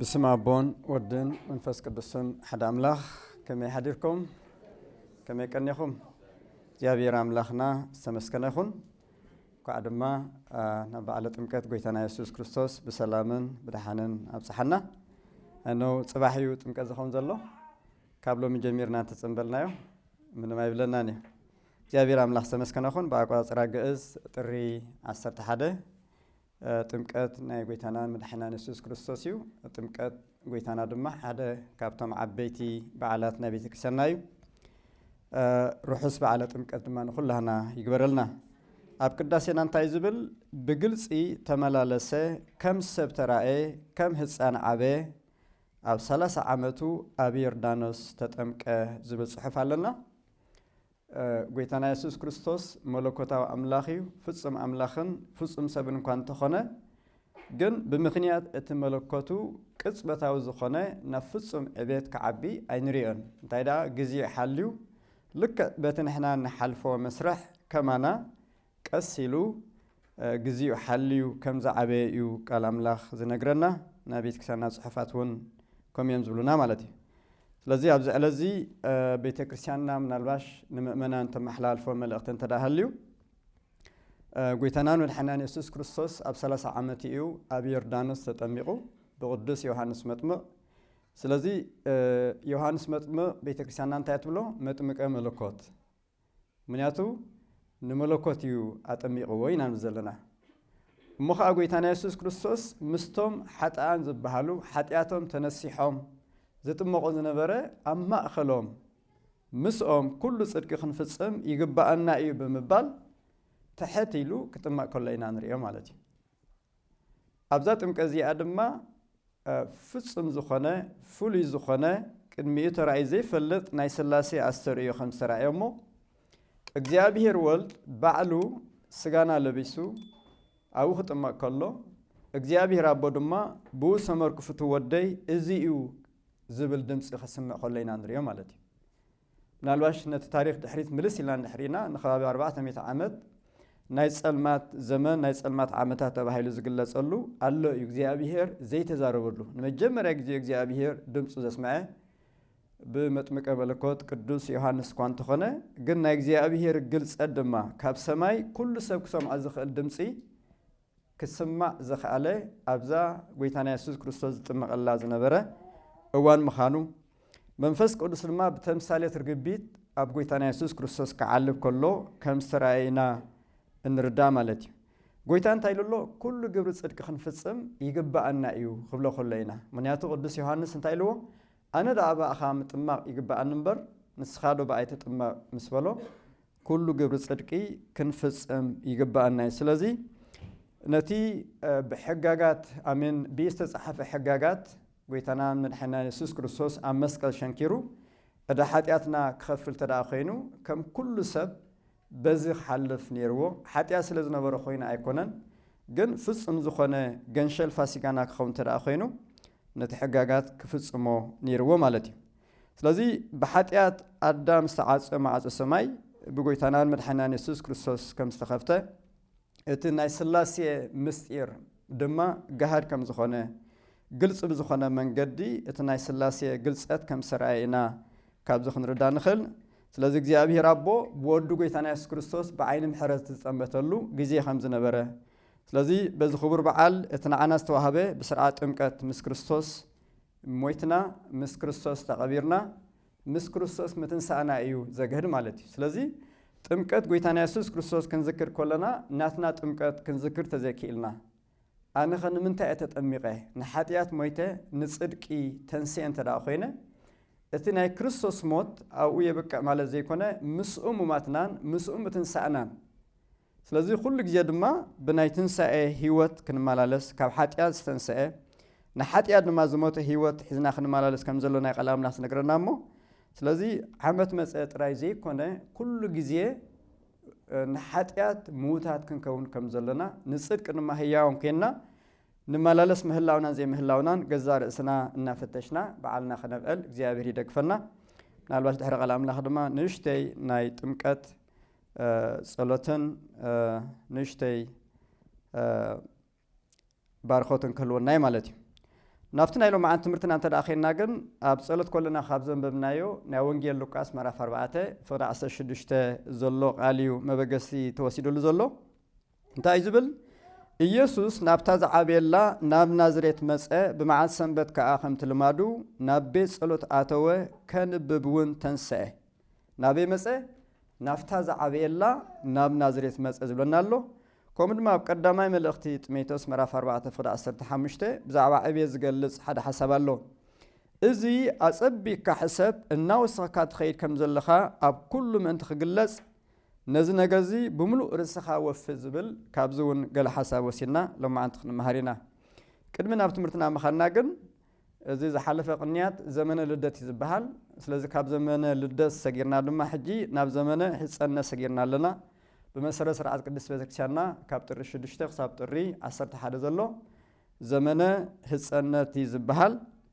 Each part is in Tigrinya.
ብስም ኣቦን ወድን መንፈስ ቅዱስን ሓደ ኣምላኽ ከመይ ሓዲርኩም ከመይ ቀኒኹም እግዚኣብሔር ኣምላኽና ዝተመስገነ ይኹን እንኳዕ ድማ ናብ በዓለ ጥምቀት ጎይታና የሱስ ክርስቶስ ብሰላምን ብድሓንን ኣብፅሓና እነው ፅባሕ እዩ ጥምቀት ዝኸውን ዘሎ ካብ ሎሚ ጀሚርና እንተፅንበልናዮ ምንም ኣይብለናን እዩ እግዚኣብሔር ኣምላኽ ዝተመስገነ ይኹን ብኣቆፃፅራ ግእዝ ጥሪ 11 ጥምቀት ናይ ጎይታናን መድሓኒናን የሱስ ክርስቶስ እዩ። ጥምቀት ጎይታና ድማ ሓደ ካብቶም ዓበይቲ በዓላት ናይ ቤተክርስቲያንና እዩ። ርሑስ በዓለ ጥምቀት ድማ ንኹላህና ይግበረልና። ኣብ ቅዳሴና እንታይ ዝብል ብግልፂ ተመላለሰ ከም ሰብ ተራእየ ከም ህፃን ዓበ ኣብ ሰላሳ ዓመቱ ኣብ ዮርዳኖስ ተጠምቀ ዝብል ፅሑፍ ኣለና። ጐይታና የሱስ ክርስቶስ መለኮታዊ ኣምላኽ እዩ፣ ፍጹም ኣምላኽን ፍጹም ሰብን እኳ እንተ ዀነ ግን፣ ብምኽንያት እቲ መለኮቱ ቅጽበታዊ ዝዀነ ናብ ፍጹም ዕቤት ክዓቢ ኣይንርእዮን። እንታይ ደኣ ግዜኡ ሓልዩ ልክዕ በቲ ንሕና እንሓልፎ መስርሕ ከማና ቀስ ኢሉ ግዚኡ ሓልዩ ከም ዝዓበየ እዩ ቃል ኣምላኽ ዝነግረና ናይ ቤተክርስቲያንና ጽሑፋት እውን ከምኡ እዮም ዝብሉና ማለት እዩ ስለዚ ኣብዚ ዕለት እዚ ቤተክርስቲያንና ምናልባሽ ንምእመናን ተመሓላልፎ መልእኽቲ እንተ ሃልዩ ጎይታናን መድሓናን የሱስ ክርስቶስ ኣብ 30 ዓመት እዩ ኣብ ዮርዳኖስ ተጠሚቑ ብቅዱስ ዮሃንስ መጥምቕ ስለዚ ዮሃንስ መጥምቕ ቤተክርስቲያንና እንታይ ትብሎ መጥምቀ መለኮት ምክንያቱ ንመለኮት እዩ ኣጠሚቅዎ ኢና ንብል ዘለና። እሞ ከኣ ጎይታና የሱስ ክርስቶስ ምስቶም ሓጥኣን ዝበሃሉ ሓጢኣቶም ተነሲሖም ዝጥመቁ ዝነበረ ኣብ ማእከሎም ምስኦም ኩሉ ጽድቂ ክንፍጽም ይግብኣና እዩ ብምባል ትሕት ኢሉ ክጥመቅ ከሎ ኢና ንርእዮ ማለት እዩ። ኣብዛ ጥምቀት እዚኣ ድማ ፍጹም ዝኾነ ፍሉይ ዝኾነ ቅድሚኡ ተራእዩ ዘይፈልጥ ናይ ሥላሴ ኣስተርእዮ ከም ዝተራእዮ እሞ እግዚኣብሔር ወልድ ባዕሉ ሥጋና ለቢሱ ኣብኡ ክጥመቕ ከሎ እግዚኣብሔር ኣቦ ድማ ብኡ ሰመርኩ ፍትው ወደይ እዚ እዩ ዝብል ድምፂ ከስምዕ ከሎ ኢና ንሪኦ ማለት እዩ። ምናልባሽ ነቲ ታሪኽ ድሕሪት ምልስ ኢልና እንድሕሪና ንከባቢ ኣርባዕተ ሚእቲ ዓመት ናይ ጸልማት ዘመን ናይ ጸልማት ዓመታት ተባሂሉ ዝግለጸሉ ኣሎ እዩ እግዚኣብሄር ዘይተዛረበሉ ንመጀመርያ ግዜ እግዚኣብሄር ድምጹ ዘስምዐ ብመጥምቀ መለኮት ቅዱስ ዮሃንስ እኳ እንተኾነ ግን ናይ እግዚኣብሄር ግልጸት ድማ ካብ ሰማይ ኩሉ ሰብ ክሰምዖ ዝኽእል ድምጺ ክስማዕ ዝኸኣለ ኣብዛ ጐይታና የሱስ ክርስቶስ ዝጥመቐላ ዝነበረ እዋን ምኻኑ፣ መንፈስ ቅዱስ ድማ ብተምሳሌት ርግቢት ኣብ ጐይታና የሱስ ክርስቶስ ክዓልብ ከሎ ከም ዝተራእየ ኢና እንርዳእ ማለት እዩ። ጐይታ እንታይ ኢሉ ኣሎ? ኩሉ ግብሪ ጽድቂ ክንፍጽም ይግብኣና እዩ ክብሎ ከሎ ኢና። ምኽንያቱ ቅዱስ ዮሃንስ እንታይ ኢልዎ? ኣነ ደኣ ብኣኻ ምጥማቕ ይግብኣኒ እምበር ንስኻዶ ብኣይ ትጥመቕ ምስ በሎ፣ ኩሉ ግብሪ ጽድቂ ክንፍጽም ይግብኣና እዩ። ስለዚ ነቲ ብሕጋጋት ኣሜን ብኢድ ዝተጻሕፈ ሕጋጋት ጎይታናን መድሓኒናን የሱስ ክርስቶስ ኣብ መስቀል ሸንኪሩ እዳ ሓጢኣትና ክኸፍል ተደኣ ኮይኑ ከም ኩሉ ሰብ በዚ ክሓልፍ ኔርዎ ሓጢኣት ስለ ዝነበሮ ኮይኑ ኣይኮነን ግን ፍጹም ዝኾነ ገንሸል ፋሲጋና ክኸውን ተደኣ ኮይኑ ነቲ ሕጋጋት ክፍጽሞ ኔርዎ ማለት እዩ። ስለዚ ብሓጢኣት ኣዳም ዝተዓጸ ማዕጾ ሰማይ ብጎይታናን መድሓኒናን የሱስ ክርስቶስ ከም ዝተኸፍተ እቲ ናይ ስላሴ ምስጢር ድማ ገሃድ ከም ዝኾነ ግልጺ ብዝኾነ መንገዲ እቲ ናይ ስላሴ ግልጸት ከም ዝተርኣየ ኢና ካብዚ ክንርዳ ንኽእል። ስለዚ እግዚኣብሄር ኣቦ ብወዱ ጎይታና የሱስ ክርስቶስ ብዓይኒ ምሕረት ዝጠመተሉ ግዜ ከም ዝነበረ ስለዚ በዚ ክቡር በዓል እቲ ንዓና ዝተዋህበ ብስርዓት ጥምቀት ምስ ክርስቶስ ሞይትና ምስ ክርስቶስ ተቐቢርና ምስ ክርስቶስ ምትንሳእና እዩ ዘግህድ ማለት እዩ። ስለዚ ጥምቀት ጎይታና የሱስ ክርስቶስ ክንዝክር ከሎና ናትና ጥምቀት ክንዝክር ተዘይክኢልና ኣነኸ ንምንታይ እየ ተጠሚቐ ንሓጢኣት ሞይተ ንጽድቂ ተንስኤ እንተ ደኣ ኮይነ እቲ ናይ ክርስቶስ ሞት ኣብኡ የብቅዕ ማለት ዘይኮነ ምስኡ ሙማትናን ምስኡ ምትንሳእናን ስለዚ ኩሉ ግዜ ድማ ብናይ ትንሳኤ ሕይወት ክንመላለስ ካብ ሓጢኣት ዝተንሰኤ ንሓጢኣት ድማ ዝሞተ ሕይወት ሒዝና ክንመላለስ ከም ዘሎና እዩ ቃል ኣምላኽ ዝነግረና እሞ ስለዚ ዓመት መጸ ጥራይ ዘይኮነ ኩሉ ግዜ ንሓጢኣት ምዉታት ክንከውን ከም ዘሎና ንጽድቂ ድማ ህያውን ኴንና ንመላለስ ምህላውናን ዘይምህላውናን ገዛ ርእስና እናፈተሽና በዓልና ክነብዕል እግዚኣብሔር ይደግፈና ምናልባሽ ድሕሪ ቃል ኣምላኽ ድማ ንእሽተይ ናይ ጥምቀት ጸሎትን ንእሽተይ ባርኾትን ክህልወናዩ ማለት እዩ ናብቲ ናይ ሎም መዓንቲ ትምህርትና እንተ ኸንና ግን ኣብ ጸሎት ኮለና ካብ ዘንበብናዮ ናይ ወንጌል ሉቃስ መራፍ 4 ፍቕሪ 16 ዘሎ ቃል እዩ መበገሲ ተወሲድሉ ዘሎ እንታይ እዩ ዝብል? ኢየሱስ ናብታ ዝዓበየላ ናብ ናዝሬት መጸ፣ ብመዓልቲ ሰንበት ከኣ ከምቲ ልማዱ ናብ ቤት ጸሎት ኣተወ፣ ከንብብ ውን ተንስኤ። ናበይ መጸ? ናብታ ዝዓበየላ ናብ ናዝሬት መጸ ዝብለና ኣሎ። ከምኡ ድማ ኣብ ቀዳማይ መልእኽቲ ጢሞቴዎስ ምዕራፍ ኣርባዕተ ፍቕዲ ዓሰርተ ሓሙሽተ ብዛዕባ ዕብየት ዝገልጽ ሓደ ሓሳብ ኣሎ። እዚ ኣጸቢቅካ ሕሰብ፣ እናወሰኽካ ትኸይድ ከም ዘለኻ ኣብ ኩሉ ምእንቲ ክግለጽ፣ ነዚ ነገር እዚ ብምሉእ ርእስኻ ወፊ ዝብል ካብዚ እውን ገለ ሓሳብ ወሲድና ሎማዓንቲ ክንመሃር ኢና። ቅድሚ ናብ ትምህርትና ምኻድና ግን እዚ ዝሓለፈ ቅንያት ዘመነ ልደት እዩ ዝበሃል። ስለዚ ካብ ዘመነ ልደት ሰጊርና ድማ ሕጂ ናብ ዘመነ ሕጸነ ሰጊርና ኣለና። ብመሰረት ስርዓት ቅድስት ቤተክርስቲያንና ካብ ጥሪ ሽዱሽተ ክሳብ ጥሪ ዓሰርተ ሓደ ዘሎ ዘመነ ሕጸነት እዩ ዝበሃል።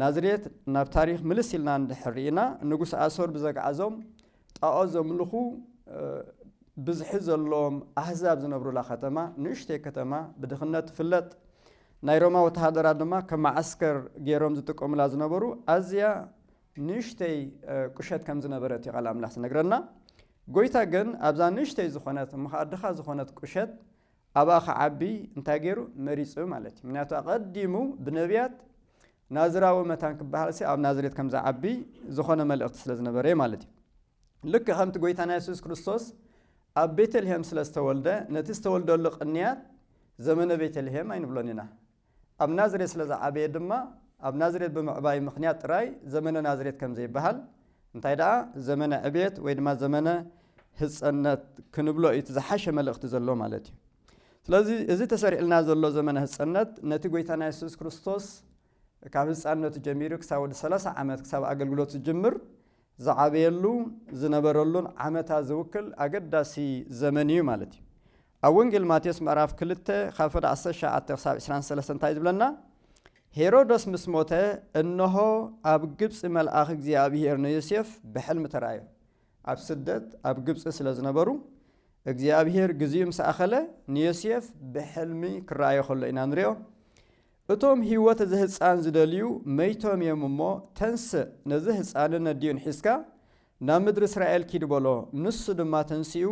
ናዝሬት ናብ ታሪኽ ምልስ ኢልና እንድሕር ርኢና ንጉስ ኣሶር ብዘግዓዞም ጣኦት ዘምልኹ ብዝሒ ዘለዎም ኣህዛብ ዝነብሩላ ከተማ ንእሽተይ ከተማ ብድኽነት ትፍለጥ ናይ ሮማ ወተሃደራት ድማ ከም መዓስከር ገይሮም ዝጥቀሙላ ዝነበሩ ኣዝያ ንእሽተይ ቁሸት ከም ዝነበረት እዩ ቃል ኣምላኽ ዝነግረና ጎይታ ግን ኣብዛ ንእሽተይ ዝኾነት እሞ ኸኣ ድኻ ዝኾነት ቁሸት ኣብኣ ክዓቢ እንታይ ገይሩ? መሪጹ ማለት እዩ። ምክንያቱ ኣቐዲሙ ብነብያት ናዝራዊ መታን ክበሃልሲ ኣብ ናዝሬት ከም ዝዓቢ ዝኾነ መልእኽቲ ስለ ዝነበረ እዩ ማለት እዩ። ልክዕ ከምቲ ጎይታና የሱስ ክርስቶስ ኣብ ቤተልሄም ስለ ዝተወልደ ነቲ ዝተወልደሉ ቅንያት ዘመነ ቤተልሄም ኣይንብሎን ኢና። ኣብ ናዝሬት ስለ ዝዓበየ ድማ፣ ኣብ ናዝሬት ብምዕባዩ ምኽንያት ጥራይ ዘመነ ናዝሬት ከም ዘይበሃል፣ እንታይ ደኣ ዘመነ ዕብየት ወይ ድማ ዘመነ ህጸነት ክንብሎ እዩ እቲ ዝሓሸ መልእኽቲ ዘለዎ ማለት እዩ። ስለዚ እዚ ተሰሪዕልና ዘሎ ዘመነ ህጸነት ነቲ ጎይታና የሱስ ክርስቶስ ካብ ህጻንነቱ ጀሚሩ ክሳብ ወዲ ሰላሳ ዓመት ክሳብ ኣገልግሎት ዝጅምር ዝዓበየሉ ዝነበረሉን ዓመታ ዝውክል ኣገዳሲ ዘመን እዩ ማለት እዩ። ኣብ ወንጌል ማቴዎስ ምዕራፍ ክልተ ካብ ፍዳ ዓሰርተ ሸውዓተ ክሳብ ዕስራን ሰለስተን እንታይ እዩ ዝብለና? ሄሮዶስ ምስ ሞተ እነሆ ኣብ ግብፂ መልኣኽ እግዚኣብሄር ንዮሴፍ ብሕልሚ ተራእዮ። ኣብ ስደት ኣብ ግብፂ ስለ ዝነበሩ እግዚኣብሄር ግዚኡ ምስ ኣኸለ ንዮሴፍ ብሕልሚ ክረኣዮ ከሎ ኢና ንሪኦ። እቶም ህይወት እዚ ህጻን ዝደልዩ መይቶም እዮም እሞ፣ ተንስእ፣ ነዚ ህጻንን ኣዲኡን ሒዝካ ናብ ምድሪ እስራኤል ኪድ በሎ። ንሱ ድማ ተንሲኡ፣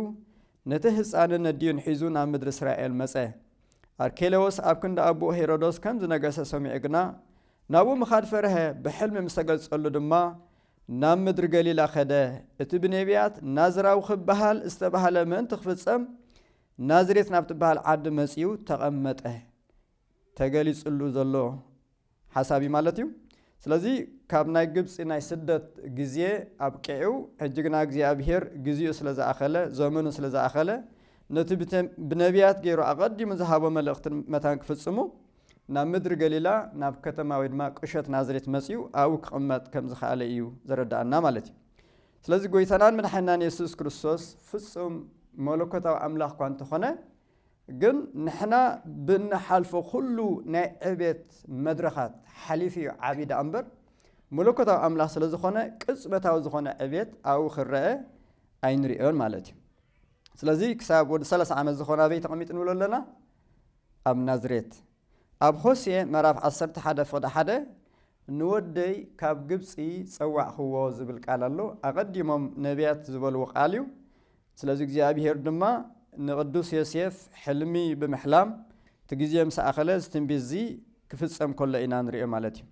ነቲ ህጻንን ኣዲኡን ሒዙ ናብ ምድሪ እስራኤል መጸ። ኣርኬለዎስ ኣብ ክንዲ ኣቡኡ ሄሮዶስ ከም ዝነገሰ ሰሚዑ ግና፣ ናብኡ ምኻድ ፈርሀ፣ ብሕልሚ ምስ ተገልጸሉ ድማ፣ ናብ ምድሪ ገሊላ ከደ፣ እቲ ብኔብያት ናዝራዊ ኺብሃል ዝተባህለ ምእንቲ ኪፍጸም፣ ናዝሬት ናብ ትብሃል ዓዲ መጺኡ ተቐመጠ። ተገሊጽሉ ዘሎ ሓሳብ እዩ ማለት እዩ ስለዚ ካብ ናይ ግብጺ ናይ ስደት ግዜ ኣብቂዑ ሕጂ ግና እግዚኣብሄር ግዜኡ ስለ ዝኣኸለ ዘመኑ ስለ ዝኣኸለ ነቲ ብነቢያት ገይሩ ኣቐዲሙ ዝሃቦ መልእኽቲ መታን ክፍጽሙ ናብ ምድሪ ገሊላ ናብ ከተማ ወይ ድማ ቅሸት ናዝሬት መጺኡ ኣብኡ ክቕመጥ ከም ዝኸኣለ እዩ ዘረዳኣና ማለት እዩ ስለዚ ጎይታናን መድሓናን የሱስ ክርስቶስ ፍጹም መለኮታዊ ኣምላኽ እኳ እንተኾነ ግን ንሕና ብእንሓልፎ ኩሉ ናይ ዕቤት መድረኻት ሓሊፉ እዩ ዓብዪ ደኣ እምበር መለኮታዊ ኣምላኽ ስለ ዝኾነ ቅጽበታዊ ዝኾነ ዕቤት ኣብኡ ክረአ ኣይንርእዮን ማለት እዩ ስለዚ ክሳብ ወዲ ሰላሳ ዓመት ዝኾነ ኣበይ ተቐሚጡ ንብሎ ኣለና ኣብ ናዝሬት ኣብ ሆሴ ምዕራፍ 11 ፍቕዲ ሓደ ንወደይ ካብ ግብፂ ፀዋዕኽዎ ዝብል ቃል ኣሎ ኣቐዲሞም ነቢያት ዝበልዎ ቃል እዩ ስለዚ እግዚኣብሄር ድማ ንቕዱስ ዮሴፍ ሕልሚ ብምሕላም እቲ ግዜ ምስ ኣኸለ እዚ ትንቢት እዚ ክፍጸም ከሎ ኢና ንሪኦ ማለት እዩ።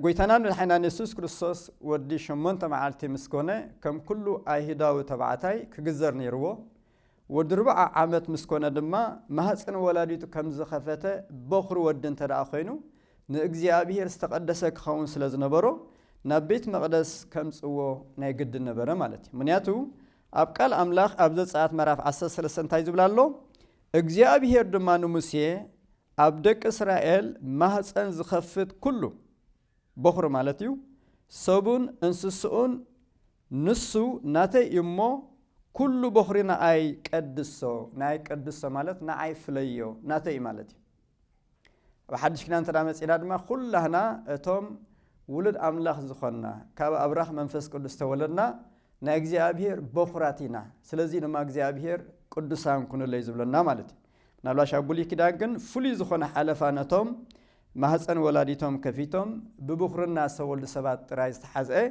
ጎይታናን መድሓኒናን የሱስ ክርስቶስ ወዲ ሸሞንተ መዓልቲ ምስ ኮነ ከም ኩሉ ኣይሁዳዊ ተባዕታይ ክግዘር ነይርዎ ወዲ ርብዓ ዓመት ምስ ኮነ ድማ ማህፅን ወላዲቱ ከም ዝኸፈተ በኹሪ ወዲ እንተ ኮይኑ ንእግዚኣብሄር ዝተቐደሰ ክኸውን ስለ ዝነበሮ ናብ ቤት መቕደስ ከምጽዎ ናይ ግድን ነበረ ማለት እዩ። ምኽንያቱ ኣብ ቃል ኣምላኽ ኣብ ዘጸኣት ምዕራፍ ዓሰርተ ሰለስተ እንታይ ዝብል ኣሎ? እግዚኣብሄር ድማ ንሙሴ ኣብ ደቂ እስራኤል ማህጸን ዝኸፍት ኩሉ በኹሪ ማለት እዩ ሰቡን እንስስኡን ንሱ ናተይ እዩ እሞ ኩሉ በኹሪ ንኣይ ቀድሶ፣ ንኣይ ቀድሶ ማለት ንኣይ ፍለዮ ናተይ እዩ ማለት እዩ። ኣብ ሓድሽ ኪዳን እንተ መጺና ድማ ኩላህና እቶም ውሉድ ኣምላኽ ዝኾንና ካብ ኣብራኽ መንፈስ ቅዱስ ተወለድና ናይ እግዚኣብሄር በኹራት ኢና። ስለዚ ድማ እግዚኣብሄር ቅዱሳን ኩኑለይ ዝብለና ማለት እዩ። ምናልባሽ ኣብ ብሉይ ኪዳን ግን ፍሉይ ዝኾነ ሓለፋ ነቶም ማህፀን ወላዲቶም ከፊቶም ብብኹርና ዝተወልዱ ሰባት ጥራይ ዝተሓዝአ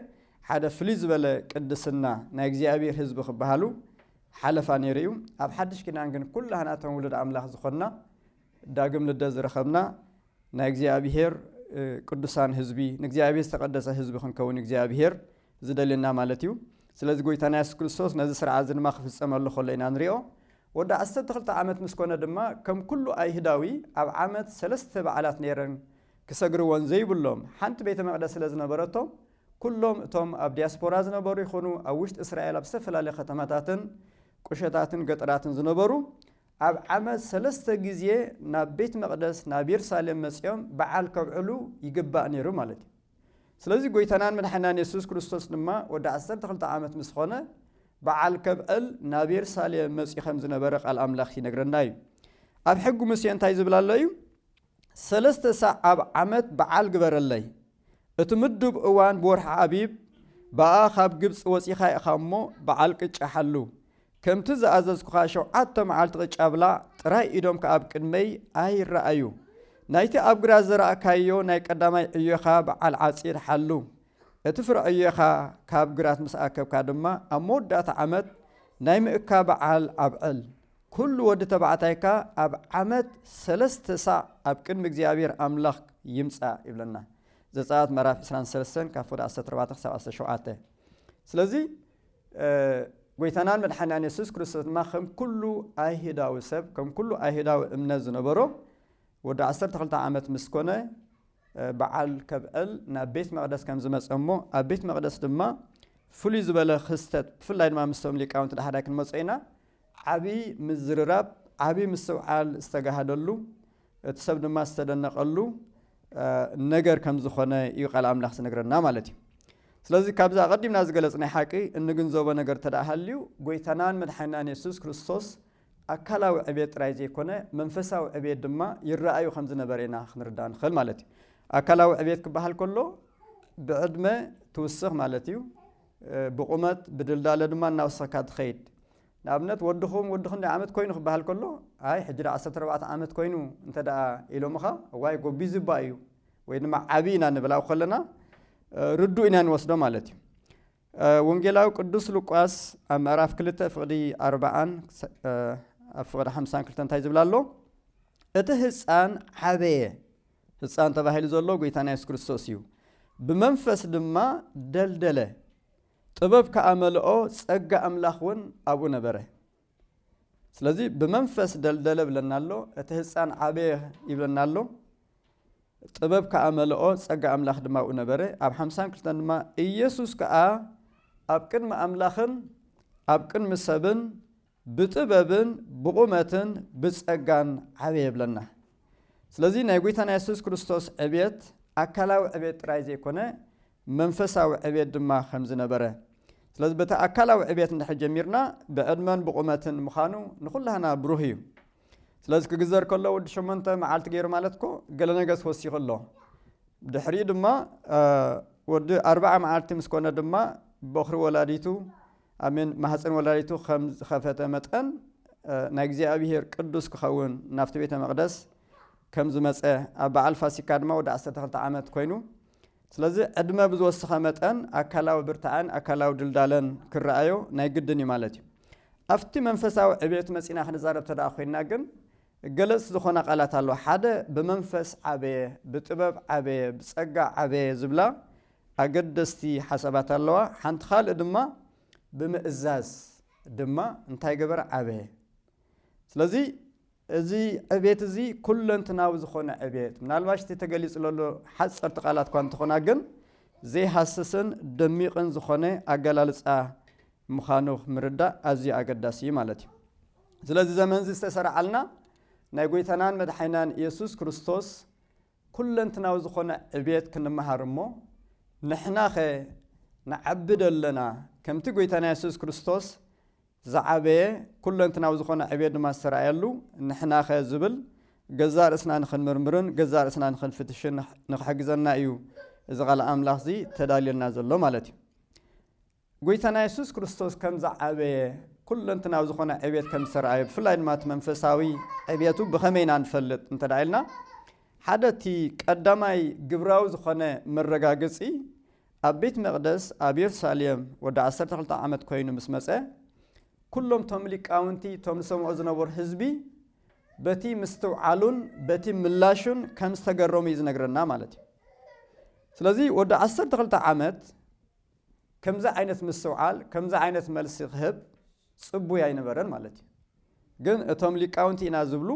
ሓደ ፍልይ ዝበለ ቅድስና ናይ እግዚኣብሔር ህዝቢ ክበሃሉ ሓለፋ ነይሩ እዩ ኣብ ሓድሽ ኪዳን ግን ኩላህናቶም ውሉድ ኣምላኽ ዝኾንና ዳግም ልደት ዝረኸብና ናይ እግዚኣብሄር ቅዱሳን ህዝቢ ንእግዚኣብሄር ዝተቐደሰ ህዝቢ ክንከውን እግዚኣብሄር ዝደልየና ማለት እዩ ስለዚ ጎይታና የሱስ ክርስቶስ ነዚ ስርዓት እዚ ድማ ክፍፀመሉ ከሎ ኢና ንሪኦ ወዲ ዓሰርተ ክልተ ዓመት ምስ ኮነ ድማ ከም ኩሉ ኣይሁዳዊ ኣብ ዓመት ሰለስተ በዓላት ነይረን ክሰግርወን ዘይብሎም ሓንቲ ቤተ መቅደስ ስለ ዝነበረቶም ኩሎም እቶም ኣብ ዲያስፖራ ዝነበሩ ይኹኑ ኣብ ውሽጢ እስራኤል ኣብ ዝተፈላለዩ ከተማታትን ቁሸታትን ገጠራትን ዝነበሩ ኣብ ዓመት ሰለስተ ግዜ ናብ ቤት መቅደስ ናብ የርሳሌም መጺኦም በዓል ከብዕሉ ይግባእ ነሩ ማለት እዩ። ስለዚ ጎይታናን መድሓኒናን የሱስ ክርስቶስ ድማ ወዲ ዓሰርተ ክልተ ዓመት ምስ ኾነ በዓል ከብዕል ናብ የርሳሌም መጺኡ ከም ዝነበረ ቃል ኣምላኽ ይነግረና እዩ። ኣብ ሕጊ ሙሴ እንታይ ዝብል ኣሎ እዩ? ሰለስተ ሳዕ ኣብ ዓመት በዓል ግበረለይ። እቲ ምዱብ እዋን ብወርሒ ኣቢብ በኣ ካብ ግብጺ ወጺኻ ኢኻ እሞ በዓል ቅጫ ሓሉ። ከምቲ ዝኣዘዝኩኻ ሸውዓተ መዓልቲ ቅጫ ብላዕ፣ ጥራይ ኢዶምካ ኣብ ቅድመይ ኣይረኣዩ። ናይቲ ኣብ ግራት ዘራእካዮ ናይ ቀዳማይ ዕዮኻ በዓል ዓጺድ ሓሉ። እቲ ፍረ ዕዮኻ ካብ ግራት ምስ ኣከብካ ድማ ኣብ መወዳእታ ዓመት ናይ ምእካ በዓል ኣብዕል። ኩሉ ወዲ ተባዕታይ ከኣ ኣብ ዓመት ሰለስተ ሳዕ ኣብ ቅድሚ እግዚኣብሔር ኣምላኽ ይምጻእ ይብለና። ዘጸኣት ምዕራፍ ዕስራን ሰለስተን ካብ ፍቅዲ ዓሰርተ ኣርባዕተ ክሳብ ዓሰርተ ሸውዓተ። ስለዚ ጎይታናን መድሓኒናን የሱስ ክርስቶስ ድማ ከም ኩሉ ኣይሁዳዊ ሰብ ከም ኩሉ ኣይሁዳዊ እምነት ዝነበሮ ወዲ ዓሰርተ ክልተ ዓመት ምስ ኮነ በዓል ከብዕል ናብ ቤት መቅደስ ከም ዝመጸ እሞ ኣብ ቤት መቅደስ ድማ ፍሉይ ዝበለ ክስተት ብፍላይ ድማ ምስቶም ሊቃውንቲ ዳሕዳይ ክንመጾ ኢና ዓቢ ምዝርራብ፣ ዓቢ ምስትውዓል ዝተጋህደሉ፣ እቲ ሰብ ድማ ዝተደነቐሉ ነገር ከም ዝኾነ እዩ ቃል ኣምላኽ ዝነግረና ማለት እዩ። ስለዚ ካብዚ ኣቐዲምና ዝገለጽናይ ሓቂ እንግንዘቦ ነገር እንተደኣ ሃልዩ ጎይታናን መድሓኒናን የሱስ ክርስቶስ ኣካላዊ ዕብየት ጥራይ ዘይኮነ መንፈሳዊ ዕብየት ድማ ይረኣዩ ከም ዝነበረ ኢና ክንርዳእ ንኽእል ማለት እዩ። ኣካላዊ ዕብየት ክበሃል ከሎ ብዕድመ ትውስኽ ማለት እዩ። ብቑመት ብድልዳለ ድማ እናወሰኽካ ትኸይድ። ንኣብነት ወድኹም ወዲ ክንደይ ዓመት ኮይኑ ክበሃል ከሎ ኣይ ሕጂ ደኣ ዓሰርተ ኣርባዕተ ዓመት ኮይኑ እንተደኣ ኢሎምኻ እዋይ ጎቢዙ'ባ እዩ ወይ ድማ ዓብይ ኢና ንብል ኣብ ከለና ርዱእ ኢና ንወስዶ ማለት እዩ። ወንጌላዊ ቅዱስ ሉቃስ ኣብ ምዕራፍ ክልተ ፍቕዲ ኣርብዓን ኣብ ፍቕዲ ሓምሳን ክልተ እንታይ ዝብል ኣሎ እቲ ህፃን ዓበየ ህጻን ተባሂሉ ዘሎ ጐይታና የሱስ ክርስቶስ እዩ። ብመንፈስ ድማ ደልደለ፣ ጥበብ ከኣ መልኦ፣ ጸጋ ኣምላኽ እውን ኣብኡ ነበረ። ስለዚ ብመንፈስ ደልደለ ብለና ኣሎ፣ እቲ ህጻን ዓበየ ይብለና ኣሎ። ጥበብ ከኣ መልኦ፣ ጸጋ ኣምላኽ ድማ ኣብኡ ነበረ። ኣብ ሓምሳን ክልተን ድማ ኢየሱስ ከኣ ኣብ ቅድሚ ኣምላኽን ኣብ ቅድሚ ሰብን ብጥበብን ብቑመትን ብጸጋን ዓበየ ይብለና። ስለዚ ናይ ጐይታና የሱስ ክርስቶስ ዕብየት ኣካላዊ ዕብየት ጥራይ ዘይኮነ መንፈሳዊ ዕብየት ድማ ከም ዝነበረ ስለዚ በቲ ኣካላዊ ዕብየት እንድሕር ጀሚርና ብዕድመን ብቑመትን ምዃኑ ንዅላህና ብሩህ እዩ። ስለዚ ክግዘር ከሎ ወዲ ሸሞንተ መዓልቲ ገይሩ ማለት እኮ ገለ ነገስ ወሲኹ ኣሎ። ድሕሪኡ ድማ ወዲ ኣርብዓ መዓልቲ ምስ ኮነ ድማ በዅሪ ወላዲቱ ኣሜን ማህጸን ወላዲቱ ከም ዝኸፈተ መጠን ናይ እግዚኣብሄር ቅዱስ ክኸውን ናብቲ ቤተ መቕደስ ከም ዝመጸ ኣብ በዓል ፋሲካ ድማ ወዲ ዓሰርተ ክልተ ዓመት ኮይኑ ስለዚ ዕድመ ብዝወሰኸ መጠን ኣካላዊ ብርታዐን ኣካላዊ ድልዳለን ክረኣዮ ናይ ግድን እዩ ማለት እዩ ኣብቲ መንፈሳዊ ዕቤት መጺና ክንዛረብ ተደኣ ኮይንና ግን ገለጽቲ ዝኾና ቃላት ኣለዋ ሓደ ብመንፈስ ዓበየ ብጥበብ ዓበየ ብጸጋ ዓበየ ዝብላ ኣገደስቲ ሓሳባት ኣለዋ ሓንቲ ካልእ ድማ ብምእዛዝ ድማ እንታይ ገበረ ዓበየ ስለዚ እዚ ዕቤት እዚ ኩለንትናዊ ዝኾነ ዕቤት ምናልባሽ እቲ ተገሊጹ ለሎ ሓጸርቲ ቃላት እኳ እንተኾና ግን ዘይሃስስን ደሚቕን ዝኾነ ኣገላልጻ ምዃኑ ምርዳእ ኣዝዩ ኣገዳሲ እዩ ማለት እዩ ስለዚ ዘመንዚ ዝተሰርዓልና ናይ ጎይታናን መድሓይናን ኢየሱስ ክርስቶስ ኩለንትናዊ ዝኾነ ዕብየት ክንመሃር እሞ ንሕናኸ ንዓቢ ዶ ኣለና? ከምቲ ጎይታና የሱስ ክርስቶስ ዝዓበየ ኩለንትናዊ ዝኾነ ዕብየት ድማ ዝተራእየሉ ንሕናኸ ዝብል ገዛእ ርእስና ንኽንምርምርን ገዛእ ርእስና ንኽንፍትሽን ንኽሕግዘና እዩ እዚ ቓል ኣምላኽዚ ተዳልዮልና ዘሎ ማለት እዩ። ጐይታና የሱስ ክርስቶስ ከም ዝዓበየ፣ ኵለንትናዊ ዝዀነ ዕብየት ከም ዝተራእየ፣ ብፍላይ ድማ እቲ መንፈሳዊ ዕብየቱ ብኸመይ ኢና ንፈልጥ እንተ ኢልና፣ ሓደ እቲ ቀዳማይ ግብራዊ ዝዀነ መረጋገጺ፣ ኣብ ቤት መቕደስ ኣብ የሩሳሌም ወዲ ዓሰርተ ክልተ ዓመት ኰይኑ ምስ መጸ፣ ኵሎም እቶም ሊቃውንቲ እቶም ዝሰምዑ ዝነበሩ ህዝቢ በቲ ምስትውዓሉን በቲ ምላሹን ከም ዝተገረሙ እዩ ዝነግረና ማለት እዩ። ስለዚ ወዲ ዓሰርተ ክልተ ዓመት ከምዚ ዓይነት ምስትውዓል ከምዚ ዓይነት መልሲ ክህብ ጽቡይ ኣይነበረን ማለት እዩ። ግን እቶም ሊቃውንቲ ኢና ዝብሉ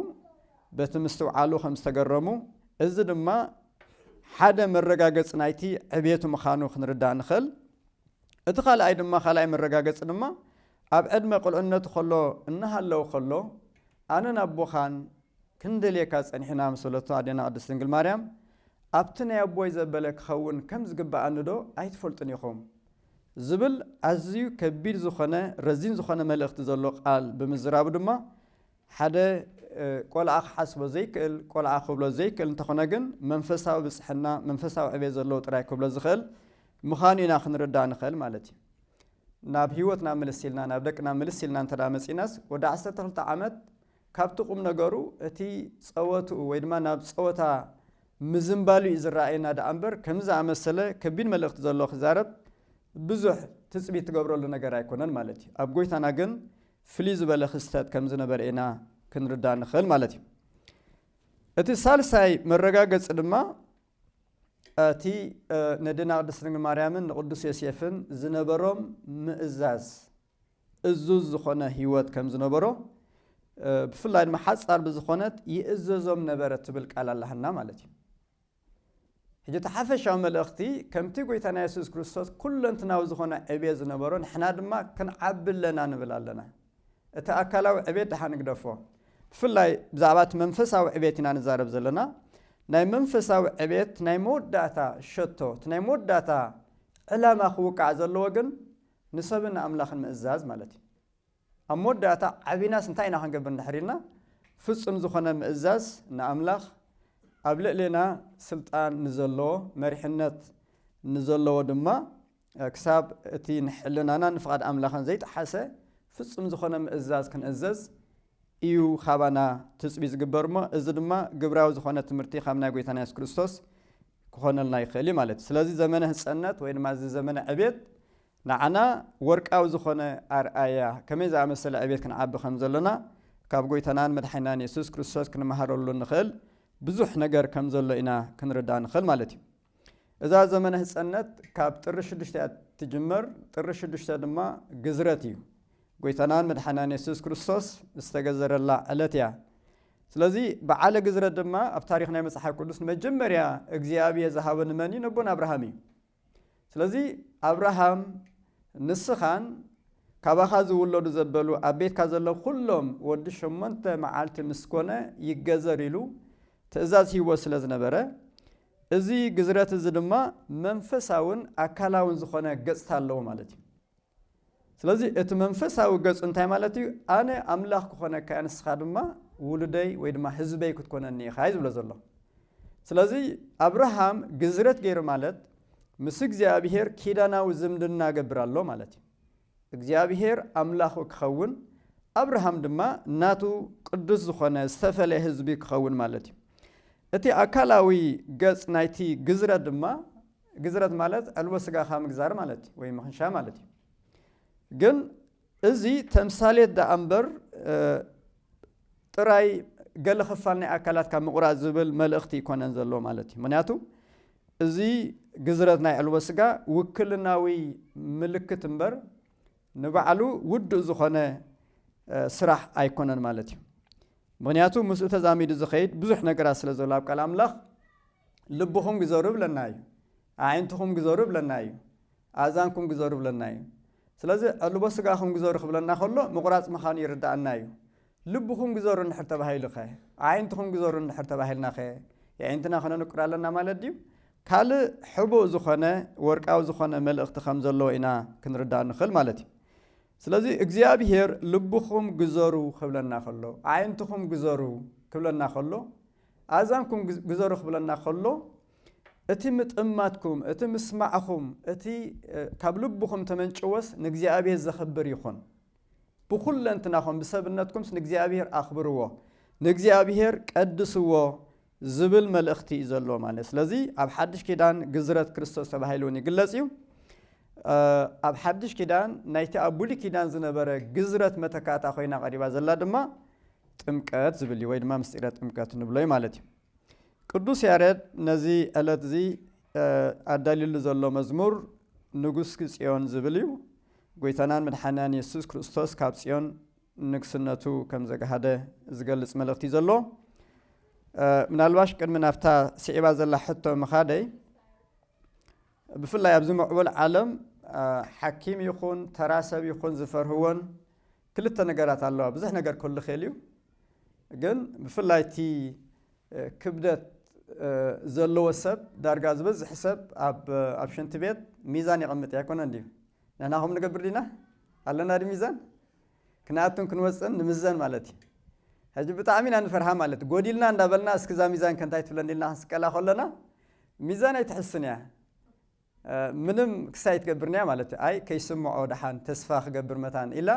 በቲ ምስትውዓሉ ከም ዝተገረሙ እዚ ድማ ሓደ መረጋገጺ ናይቲ ዕብየቱ ምኻኑ ክንርዳእ ንኽእል። እቲ ካልኣይ ድማ ካልኣይ መረጋገጺ ድማ ኣብ ዕድመ ቁልዕነቱ ከሎ እናሃለወ ከሎ ኣነን ኣቦኻን ክንደልየካ ጸኒሕና ኣመሰለቶ፣ ኣዴና ቅድስት ድንግል ማርያም ኣብቲ ናይ ኣቦይ ዘበለ ክኸውን ከም ዝግብኣኒዶ ኣይትፈልጡን ኢኹም? ዝብል ኣዝዩ ከቢድ ዝኾነ ረዚን ዝኾነ መልእኽቲ ዘሎ ቃል ብምዝራቡ ድማ ሓደ ቆልዓ ክሓስቦ ዘይክእል ቆልዓ ክብሎ ዘይክእል እንተኾነ ግን መንፈሳዊ ብጽሕና መንፈሳዊ ዕቤት ዘለዎ ጥራይ ክብሎ ዝኽእል ምኻኑ ኢና ክንርዳእ ንኽእል ማለት እዩ። ናብ ሂወትና ምልስ ኢልና ናብ ደቅና ምልስ ኢልና እንተ መጺናስ ወዲ ዓሰርተ ክልተ ዓመት ካብቲ ቁም ነገሩ እቲ ጸወትኡ ወይ ድማ ናብ ጸወታ ምዝንባሉ እዩ ዝረኣየና ደኣ እምበር ከምዚ ዝኣመሰለ ከቢድ መልእኽቲ ዘሎ ክዛረብ ብዙሕ ትጽቢት ትገብረሉ ነገር ኣይኮነን ማለት እዩ። ኣብ ጎይታና ግን ፍልይ ዝበለ ክስተት ከም ዝነበረ ኢና ክንርዳእ ንኽእል ማለት እዩ። እቲ ሳልሳይ መረጋገጺ ድማ እቲ ነዴና ቅድስት ድንግል ማርያምን ንቅዱስ ዮሴፍን ዝነበሮም ምእዛዝ እዙዝ ዝኾነ ሕይወት ከም ዝነበሮ ብፍላይ ድማ ሓጻር ብዝኾነት ይእዘዞም ነበረ ትብል ቃል ኣላህና ማለት እዩ። ሕጂ እቲ ሓፈሻዊ መልእኽቲ ከምቲ ጎይታና የሱስ ክርስቶስ ኩለንትናዊ ዝኾነ ዕብየት ዝነበሮ ንሕና ድማ ክንዓቢ ኣለና ንብል ኣለና እቲ ኣካላዊ ዕቤት ደሓን ንግደፎ፣ ብፍላይ ብዛዕባ እቲ መንፈሳዊ ዕቤት ኢና ንዛረብ ዘለና። ናይ መንፈሳዊ ዕቤት ናይ መወዳእታ ሸቶ፣ እቲ ናይ መወዳእታ ዕላማ ክውቃዕ ዘለዎ ግን ንሰብን ንኣምላኽን ምእዛዝ ማለት እዩ። ኣብ መወዳእታ ዓቢናስ እንታይ ኢና ክንገብር እንድሕር ኢልና ፍጹም ዝኾነ ምእዛዝ ንኣምላኽ፣ ኣብ ልዕሌና ስልጣን ንዘለዎ፣ መሪሕነት ንዘለዎ ድማ፣ ክሳብ እቲ ንሕልናናን ንፍቓድ ኣምላኽን ዘይጠሓሰ ፍጹም ዝኾነ ምእዛዝ ክንእዘዝ እዩ ኻባና ትጽቢ ዝግበር እሞ እዚ ድማ ግብራዊ ዝኾነ ትምህርቲ ካብ ናይ ጎይታና የሱስ ክርስቶስ ክኾነልና ይኽእል እዩ ማለት እዩ ስለዚ ዘመነ ህፀነት ወይ ድማ እዚ ዘመነ ዕቤት ንዓና ወርቃዊ ዝኾነ ኣርኣያ ከመይ ዝኣመሰለ ዕቤት ክንዓቢ ከም ዘለና ካብ ጎይታናን መድሓኒናን የሱስ ክርስቶስ ክንመሃረሉ ንኽእል ብዙሕ ነገር ከም ዘሎ ኢና ክንርዳእ ንኽእል ማለት እዩ እዛ ዘመነ ህጸነት ካብ ጥሪ ሽዱሽተ እያ እትጅመር፣ ጥሪ ሽዱሽተ ድማ ግዝረት እዩ። ጎይታናን መድሓናን የሱስ ክርስቶስ ዝተገዘረላ ዕለት እያ። ስለዚ በዓለ ግዝረት ድማ ኣብ ታሪኽ ናይ መጽሓፍ ቅዱስ ንመጀመርያ እግዚኣብሄ ዝሃቦ ንመን እዩ? ነቦን ኣብርሃም እዩ። ስለዚ ኣብርሃም ንስኻን ካባኻ ዝውለዱ ዘበሉ ኣብ ቤትካ ዘሎ ኩሎም ወዲ ሸሞንተ መዓልቲ ምስ ኮነ ይገዘር ኢሉ ትእዛዝ ሂቦ ስለ ዝነበረ እዚ ግዝረት እዚ ድማ መንፈሳውን ኣካላውን ዝኾነ ገጽታ ኣለዎ ማለት እዩ። ስለዚ እቲ መንፈሳዊ ገጹ እንታይ ማለት እዩ? ኣነ ኣምላኽ ክኾነካ እየ ንስኻ ድማ ውሉደይ ወይ ድማ ህዝበይ ክትኮነኒ ኢኻ እዩ ዝብሎ ዘሎ። ስለዚ ኣብርሃም ግዝረት ገይሩ ማለት ምስ እግዚኣብሄር ኪዳናዊ ዝምድና ገብር ኣሎ ማለት እዩ። እግዚኣብሄር ኣምላኹ ክኸውን፣ ኣብርሃም ድማ ናቱ ቅዱስ ዝኾነ ዝተፈልየ ህዝቢ ክኸውን ማለት እዩ። እቲ ኣካላዊ ገጽ ናይቲ ግዝረት ድማ፣ ግዝረት ማለት ዕልቦ ስጋኻ ምግዛር ማለት እዩ፣ ወይ ምኽንሻ ማለት እዩ። ግን እዚ ተምሳሌት ደኣ እምበር ጥራይ ገለ ክፋል ናይ ኣካላትካ ምቑራጽ ዝብል መልእኽቲ ኣይኮነን ዘሎ ማለት እዩ። ምኽንያቱ እዚ ግዝረት ናይ ኣዕልቦ ስጋ ውክልናዊ ምልክት እምበር ንባዕሉ ውዱእ ዝኾነ ስራሕ ኣይኮነን ማለት እዩ። ምኽንያቱ ምስኡ ተዛሚዱ ዝኸይድ ብዙሕ ነገራት ስለ ዘሎ ኣብ ቃል ኣምላኽ ልብኹም ግዘሩ ይብለና እዩ። ኣዒንትኹም ግዘሩ ይብለና እዩ። ኣእዛንኩም ግዘሩ ይብለና እዩ። ስለዚ ዕልቦ ስጋኹም ግዘሩ ክብለና ከሎ ምቑራጽ ምኻኑ ይርድኣና እዩ። ልብኹም ግዘሩ እንድሕር ተባሂሉኸ? ኣዒንትኹም ግዘሩ እንድሕር ተባሂልናኸ የዒንትና ክነንቁር ኣለና ማለት ድዩ? ካልእ ሕቡእ ዝኾነ ወርቃዊ ዝኾነ መልእኽቲ ከም ዘለዎ ኢና ክንርዳእ ንኽእል ማለት እዩ። ስለዚ እግዚኣብሄር ልብኹም ግዘሩ ክብለና ከሎ፣ ኣዒንትኹም ግዘሩ ክብለና ከሎ፣ ኣእዛንኩም ግዘሩ ክብለና ከሎ፣ እቲ ምጥማትኩም፣ እቲ ምስማዕኹም፣ እቲ ካብ ልብኹም ተመንጭዎስ ንእግዚኣብሔር ዘኽብር ይኹን። ብኹለንትናኹም ብሰብነትኩምስ ንእግዚኣብሔር ኣኽብርዎ፣ ንእግዚኣብሔር ቀድስዎ ዝብል መልእኽቲ እዩ ዘለዎ ማለት። ስለዚ ኣብ ሓድሽ ኪዳን ግዝረት ክርስቶስ ተባሂሉ እውን ይግለጽ እዩ። ኣብ ሓድሽ ኪዳን ናይቲ ኣብ ብሉይ ኪዳን ዝነበረ ግዝረት መተካእታ ኮይና ቀሪባ ዘላ ድማ ጥምቀት ዝብል እዩ ወይ ድማ ምስጢረ ጥምቀት ንብሎ እዩ ማለት እዩ። ቅዱስ ያሬድ ነዚ ዕለት እዚ ኣዳልዩሉ ዘሎ መዝሙር ንጉሥኪ ጽዮን ዝብል እዩ። ጐይታናን መድሓኒናን የሱስ ክርስቶስ ካብ ጽዮን ንግስነቱ ከም ዘግሃደ ዝገልጽ መልእኽቲ እዩ ዘሎ። ምናልባሽ ቅድሚ ናብታ ስዒባ ዘላ ሕቶ ምኻደይ ብፍላይ ኣብዚ ምዕቡል ዓለም ሓኪም ይኹን ተራ ሰብ ይኹን ዝፈርህዎን ክልተ ነገራት ኣለዋ ብዙሕ ነገር ክህሉ ይክእል እዩ ግን ብፍላይ እቲ ክብደት ዘለዎ ሰብ ዳርጋ ዝበዝሕ ሰብ ኣብ ኣብ ሽንቲ ቤት ሚዛን የቐምጥ እዩ ኣይኮነን ድዩ ንሕና ከምኡ ንገብር ዲና ኣለና ዲ ሚዛን ክንኣቱን ክንወፅእን ንምዘን ማለት እዩ ሕጂ ብጣዕሚ ኢና ንፈርሃ ማለት ጎዲልና እንዳበልና እስኪ እዛ ሚዛን ከንታይ ትብለኒ ኢልና ክንስቀላ ከሎና ሚዛን ኣይትሕስን እያ ምንም ክሳይ ትገብርንያ ማለት ኣይ ከይስምዖ ደሓን ተስፋ ክገብር መታን ኢላ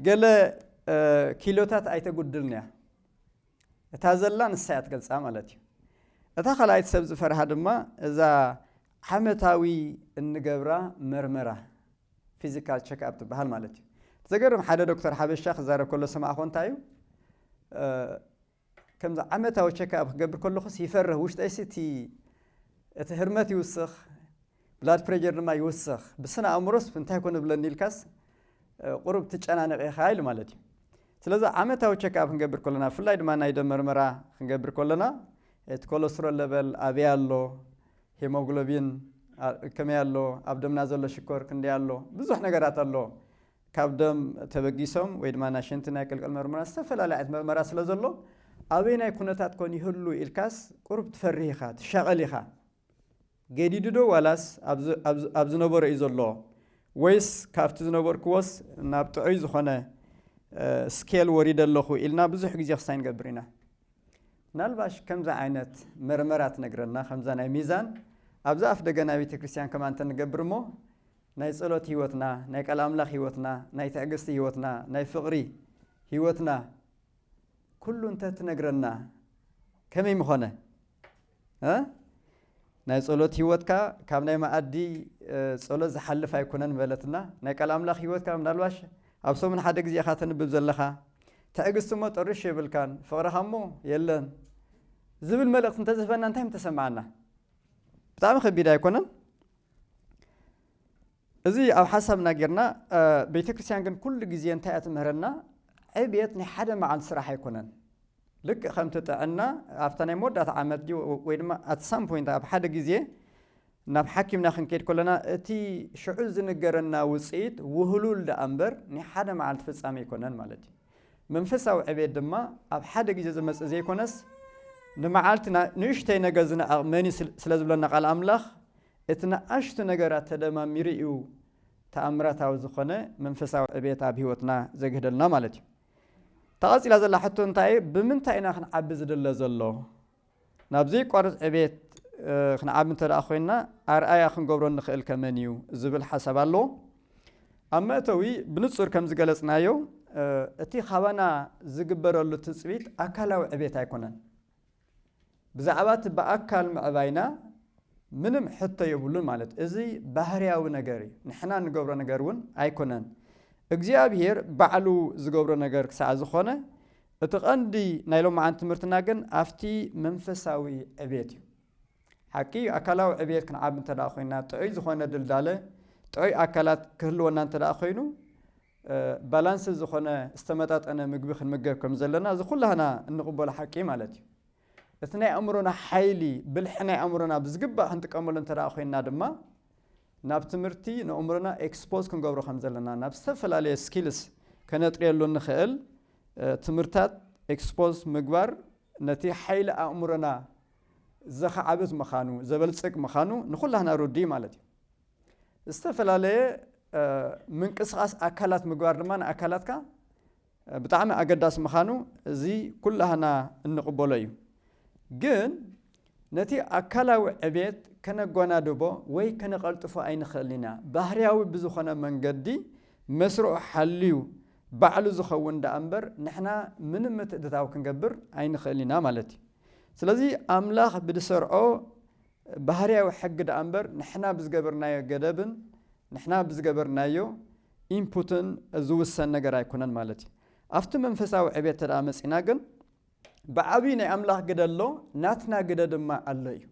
ገለ ኪሎታት ኣይተጉድልንያ እታ ዘላ ንሳያ ትገልጻ ማለት እዩ እታ ካልኣይቲ ሰብ ዝፈርሃ ድማ እዛ ዓመታዊ እንገብራ መርመራ ፊዚካል ቸክኣፕ ትበሃል ማለት እዩ ዘገርም ሓደ ዶክተር ሓበሻ ክዛረብ ከሎ ሰማዕኮ እንታይ እዩ ከምዚ ዓመታዊ ቸካፕ ክገብር ከለኹስ ይፈርህ ውሽጠይሲ እቲ እቲ ህርመት ይውስኽ ብላድ ፕሬጀር ድማ ይውስኽ ብስነ ኣእምሮስ እንታይ ኮን ዝብለኒ ኢልካስ ቁሩብ ትጨናነቕ ኢኻ ኢሉ ማለት እዩ ስለዚ ዓመታዊ ቸክኣፕ ክንገብር ከለና ብፍላይ ድማ ናይ ደም መርመራ ክንገብር ከለና እቲ ኮለስትሮል ለበል ኣበይ ኣሎ ሄሞግሎቢን ከመይ ኣሎ ኣብ ደምና ዘሎ ሽኮር ክንደይ ኣሎ ብዙሕ ነገራት ኣሎ ካብ ደም ተበጊሶም ወይ ድማ ናይ ሽንቲ ናይ ቅልቅል መርመራ ዝተፈላለየ ዓይነት መርመራ ስለ ዘሎ ኣበይናይ ኩነታት ኮን ይህሉ ኢልካስ ቁሩብ ትፈርህ ኢኻ ትሻቐል ኢኻ ገዲዱ ዶ ዋላስ ኣብ ዝነበሮ እዩ ዘሎ ወይስ ካብቲ ዝነበርክዎስ ናብ ጥዑይ ዝኾነ ስኬል ወሪደ ኣለኹ ኢልና ብዙሕ ግዜ ክሳይ ንገብር ኢና ምናልባሽ ከምዚ ዓይነት መርመራ ትነግረና ከምዛ ናይ ሚዛን ኣብዛ ኣፍ ደገ ናይ ቤተ ክርስቲያን ከማ እንተንገብር እሞ ናይ ጸሎት ህይወትና፣ ናይ ቃል ኣምላኽ ህይወትና፣ ናይ ትዕግስቲ ህይወትና፣ ናይ ፍቕሪ ህይወትና ኩሉ እንተ ትነግረና ከመይ ምኾነ? እ ናይ ጸሎት ህይወትካ ካብ ናይ መኣዲ ጸሎት ዝሓልፍ ኣይኮነን በለትና። ናይ ቃል ኣምላኽ ህይወትካ ምናልባሽ ኣብ ሰሙን ሓደ ግዜ ኢኻ ተንብብ ዘለኻ። ትዕግስቲ እሞ ጥርሽ የብልካን፣ ፍቕርኻ እሞ የለን ዝብል መልእኽቲ እንተ ዝህበና እንታይ ምተሰምዓና? ብጣዕሚ ከቢድ ኣይኮነን? እዚ ኣብ ሓሳብና ጌርና ቤተክርስትያን ግን ኩሉ ግዜ እንታይ እያ ትምህረና ዕብየት ናይ ሓደ መዓልቲ ስራሕ ኣይኮነን ልክእ ከምቲ ጥዕና ኣብታ ናይ መወዳእታ ዓመት ድዩ ወይ ድማ ኣት ሳም ፖይንት ኣብ ሓደ ግዜ ናብ ሓኪምና ክንከይድ ከለና እቲ ሽዑ ዝንገረና ውፅኢት ውህሉል ደኣ እምበር ናይ ሓደ መዓልቲ ፍጻሜ ኣይኮነን ማለት እዩ መንፈሳዊ ዕቤት ድማ ኣብ ሓደ ግዜ ዝመጽእ ዘይኮነስ ንመዓልቲ ንእሽተይ ነገር ዝንዕቕ መን እዩ ስለ ዝብለና ቃል ኣምላኽ እቲ ንኣሽቱ ነገራት ተደማሚሩ እዩ ተኣምራታዊ ዝኾነ መንፈሳዊ ዕቤት ኣብ ህይወትና ዘግህደልና ማለት እዩ። እታ ቀጺላ ዘላ ሕቶ እንታይ እዩ? ብምንታይ ኢና ክንዓቢ ዝድለ ዘሎ? ናብ ዘይቋርጽ ዕቤት ክንዓቢ እንተ ኾይንና ኣርኣያ ክንገብሮ እንኽእልከ መን እዩ ዝብል ሓሳብ ኣሎ። ኣብ መእተዊ ብንጹር ከም ዝገለጽናዮ እቲ ካባና ዝግበረሉ ትጽቢት ኣካላዊ ዕቤት ኣይኮነን። ብዛዕባ እቲ ብኣካል ምዕባይና ምንም ሕቶ የብሉን ማለት እዩ። እዚ ባህርያዊ ነገር እዩ፣ ንሕና እንገብሮ ነገር እውን ኣይኮነን። እግዚኣብሄር ባዕሉ ዝገብሮ ነገር ክሳዕ ዝኾነ እቲ ቀንዲ ናይ ሎምዓንቲ ትምህርትና ግን ኣብቲ መንፈሳዊ ዕብየት እዩ። ሓቂ እዩ ኣካላዊ ዕብየት ክንዓቢ እንተ ኮይንና ጥዑይ ዝኾነ ድልዳለ ጥዑይ ኣካላት ክህልወና እንተ ኮይኑ ባላንስድ ዝኾነ ዝተመጣጠነ ምግቢ ክንምገብ ከም ዘለና እዚ ኩላህና እንቕበሎ ሓቂ ማለት እዩ። እቲ ናይ ኣእምሮና ሓይሊ፣ ብልሒ ናይ ኣእምሮና ብዝግባእ ክንጥቀመሉ እንተድኣ ኮይንና ድማ፣ ናብ ትምህርቲ ንእእምሮና ኤክስፖዝ ክንገብሮ ከም ዘለና፣ ናብ ዝተፈላለየ ስኪልስ ከነጥርየሉ እንኽእል ትምህርታት ኤክስፖዝ ምግባር ነቲ ሓይሊ ኣእምሮና ዘኻዕብት ምኻኑ፣ ዘበልጽግ ምኻኑ ንኹላህና ርዱእ እዩ ማለት እዩ። ዝተፈላለየ ምንቅስቓስ ኣካላት ምግባር ድማ ንኣካላትካ ብጣዕሚ ኣገዳሲ ምኻኑ እዚ ኩላህና እንቕበሎ እዩ። ግን ነቲ ኣካላዊ ዕብየት ከነጓናድቦ ወይ ከነቐልጥፎ ኣይንኸእልን ኢና። ባህርያዊ ብዝኾነ መንገዲ መስርዑ ሓልዩ ባዕሉ ዝኸውን ደኣ እምበር ንሕና ምንም ምትእትታው ክንገብር ኣይንኸእልን ኢና ማለት እዩ። ስለዚ ኣምላኽ ብድሰርዖ ባህርያዊ ሕጊ ደኣ እምበር ንሕና ብዝገበርናዮ ገደብን ንሕና ብዝገበርናዮ ኢንፑትን ዝውሰን ነገር ኣይኮነን ማለት እዩ። ኣብቲ መንፈሳዊ ዕብየት እንተደኣ መጺእና ግን ብዓብዪ ናይ ኣምላኽ ግደ ኣሎ፣ ናትና ግደ ድማ ኣሎ እዩ።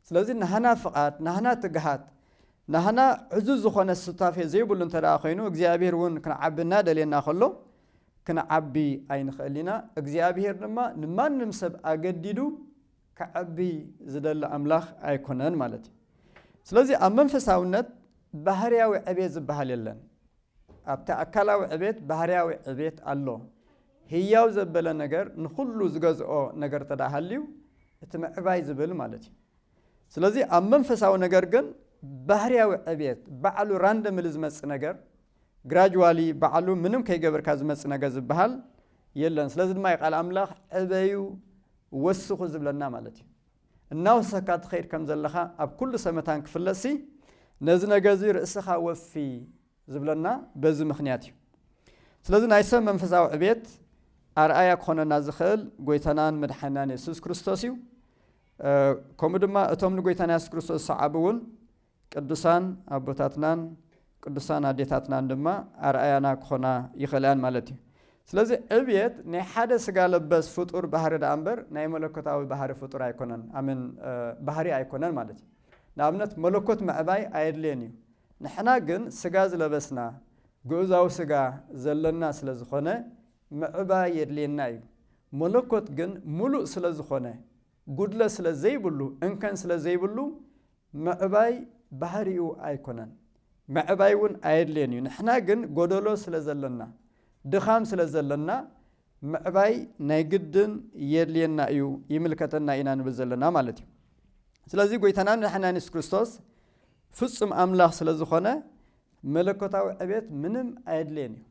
ስለዚ ናህና ፍቓድ፣ ናህና ትግሃት፣ ናህና ዕዙዝ ዝኾነ ሱታፌ ዘይብሉ እንተደኣ ኮይኑ እግዚኣብሄር እውን ክንዓቢ እናደልየና ከሎ ክንዓቢ ኣይንኽእል ኢና። እግዚኣብሄር ድማ ንማንም ሰብ ኣገዲዱ ከዐቢ ዝደሊ ኣምላኽ ኣይኮነን ማለት እዩ። ስለዚ ኣብ መንፈሳውነት ባህርያዊ ዕቤት ዝበሃል የለን። ኣብቲ ኣካላዊ ዕቤት ባህርያዊ ዕቤት ኣሎ። ህያው ዘበለ ነገር ንኹሉ ዝገዝኦ ነገር እንተ ሃልዩ እቲ ምዕባይ ዝብል ማለት እዩ። ስለዚ ኣብ መንፈሳዊ ነገር ግን ባህርያዊ ዕቤት ባዕሉ ራንደምሊ ዝመጽእ ነገር ግራጅዋሊ ባዕሉ ምንም ከይገበርካ ዝመጽእ ነገር ዝበሃል የለን። ስለዚ ድማ እዩ ቃል ኣምላኽ ዕበዩ ወስኹ ዝብለና ማለት እዩ። እናወሰካ ትኸይድ ከም ዘለኻ ኣብ ኩሉ ሰመታን ክፍለጥሲ ነዚ ነገር እዚ ርእስኻ ወፊ ዝብለና በዚ ምክንያት እዩ። ስለዚ ናይ ሰብ መንፈሳዊ ዕቤት ኣርኣያ ክኾነና ዝኽእል ጎይታናን መድሓናን የሱስ ክርስቶስ እዩ። ከምኡ ድማ እቶም ንጎይታና የሱስ ክርስቶስ ዝሰዓቡ እውን ቅዱሳን ኣቦታትናን ቅዱሳን ኣዴታትናን ድማ ኣርኣያና ክኾና ይኽእላ እየን ማለት እዩ። ስለዚ ዕብየት ናይ ሓደ ስጋ ለበስ ፍጡር ባህሪ ደኣ እምበር ናይ መለኮታዊ ባህሪ ፍጡር ኣይኮነን ኣሜን ባህሪ ኣይኮነን ማለት እዩ። ንኣብነት መለኮት ምዕባይ ኣየድልዮን እዩ። ንሕና ግን ስጋ ዝለበስና ግኡዛዊ ስጋ ዘለና ስለ ዝኾነ ምዕባይ የድልየና እዩ። መለኮት ግን ምሉእ ስለ ዝኾነ ጉድለት ስለ ዘይብሉ፣ እንከን ስለ ዘይብሉ፣ ምዕባይ ባህሪኡ ኣይኮነን። ምዕባይ እውን ኣየድልዮን እዩ። ንሕና ግን ጎደሎ ስለ ዘለና፣ ድኻም ስለ ዘለና፣ ምዕባይ ናይ ግድን የድልየና እዩ፣ ይምልከተና ኢና ንብል ዘለና ማለት እዩ። ስለዚ ጎይታናን መድሓኒናን የሱስ ክርስቶስ ፍጹም ኣምላኽ ስለ ዝኾነ መለኮታዊ ዕቤት ምንም ኣየድልዮን እዩ።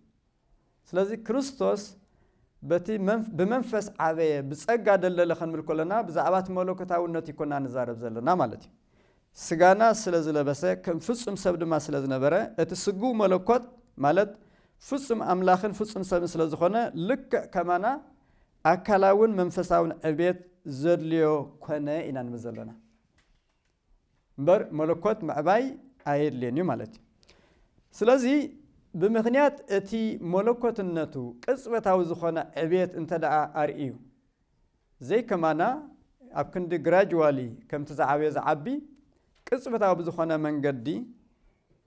ስለዚ ክርስቶስ በቲ ብመንፈስ ዓበየ ብጸጋ ደልደለ ክንብል ከሎና ብዛዕባ እቲ መለኮታውነት እይኮና ንዛረብ ዘለና ማለት እዩ። ስጋና ስለ ዝለበሰ ከም ፍጹም ሰብ ድማ ስለ ዝነበረ እቲ ስግው መለኮት ማለት ፍጹም ኣምላኽን ፍጹም ሰብን ስለ ዝኾነ ልክዕ ከማና ኣካላውን መንፈሳውን ዕብየት ዘድልዮ ኮነ ኢና ንብል ዘለና። እምበር መለኮት ምዕባይ ኣየድልዮን እዩ ማለት እዩ። ስለዚ ብምኽንያት እቲ መለኮትነቱ ቅጽበታዊ ዝኾነ ዕብየት እንተደኣ ኣርእዩ፣ ዘይከማና ኣብ ክንዲ ግራጅዋሊ ከምቲ ዝዓበየ ዝዓቢ፣ ቅጽበታዊ ብዝኾነ መንገዲ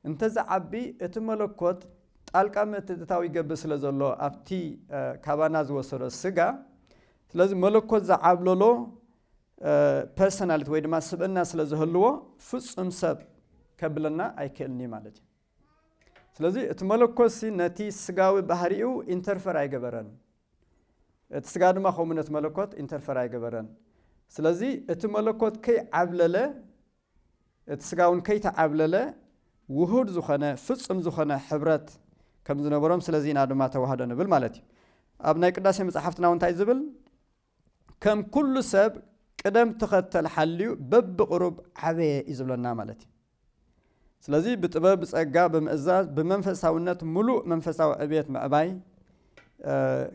እንተዝዓቢ እቲ መለኮት ጣልቃ ምእትትታው ይገብር ስለዘሎ ኣብቲ ካባና ዝወሰዶ ስጋ፣ ስለዚ መለኮት ዝዓብለሎ ፐርሰናሊቲ ወይ ድማ ስብእና ስለ ዝህልዎ ፍጹም ሰብ ከብለና ኣይክእልን እዩ ማለት እዩ ስለዚ እቲ መለኮሲ ነቲ ስጋዊ ባህሪኡ ኢንተርፈር ኣይገበረን እቲ ስጋ ድማ ከምኡ ነቲ መለኮት ኢንተርፈር ኣይገበረን ስለዚ እቲ መለኮት ከይዓብለለ እቲ ስጋ እውን ከይተዓብለለ ውሁድ ዝኾነ ፍጹም ዝኾነ ሕብረት ከም ዝነበሮም ስለዚ ኢና ድማ ተዋህዶ ንብል ማለት እዩ ኣብ ናይ ቅዳሴ መፅሓፍትና እውን እንታይ ዝብል ከም ኩሉ ሰብ ቅደም ተኸተል ሓልዩ በብቕሩብ ዓበየ እዩ ዝብለና ማለት እዩ። ስለዚ ብጥበብ ብጸጋ ብምእዛዝ ብመንፈሳውነት ምሉእ መንፈሳዊ ዕብየት ምዕባይ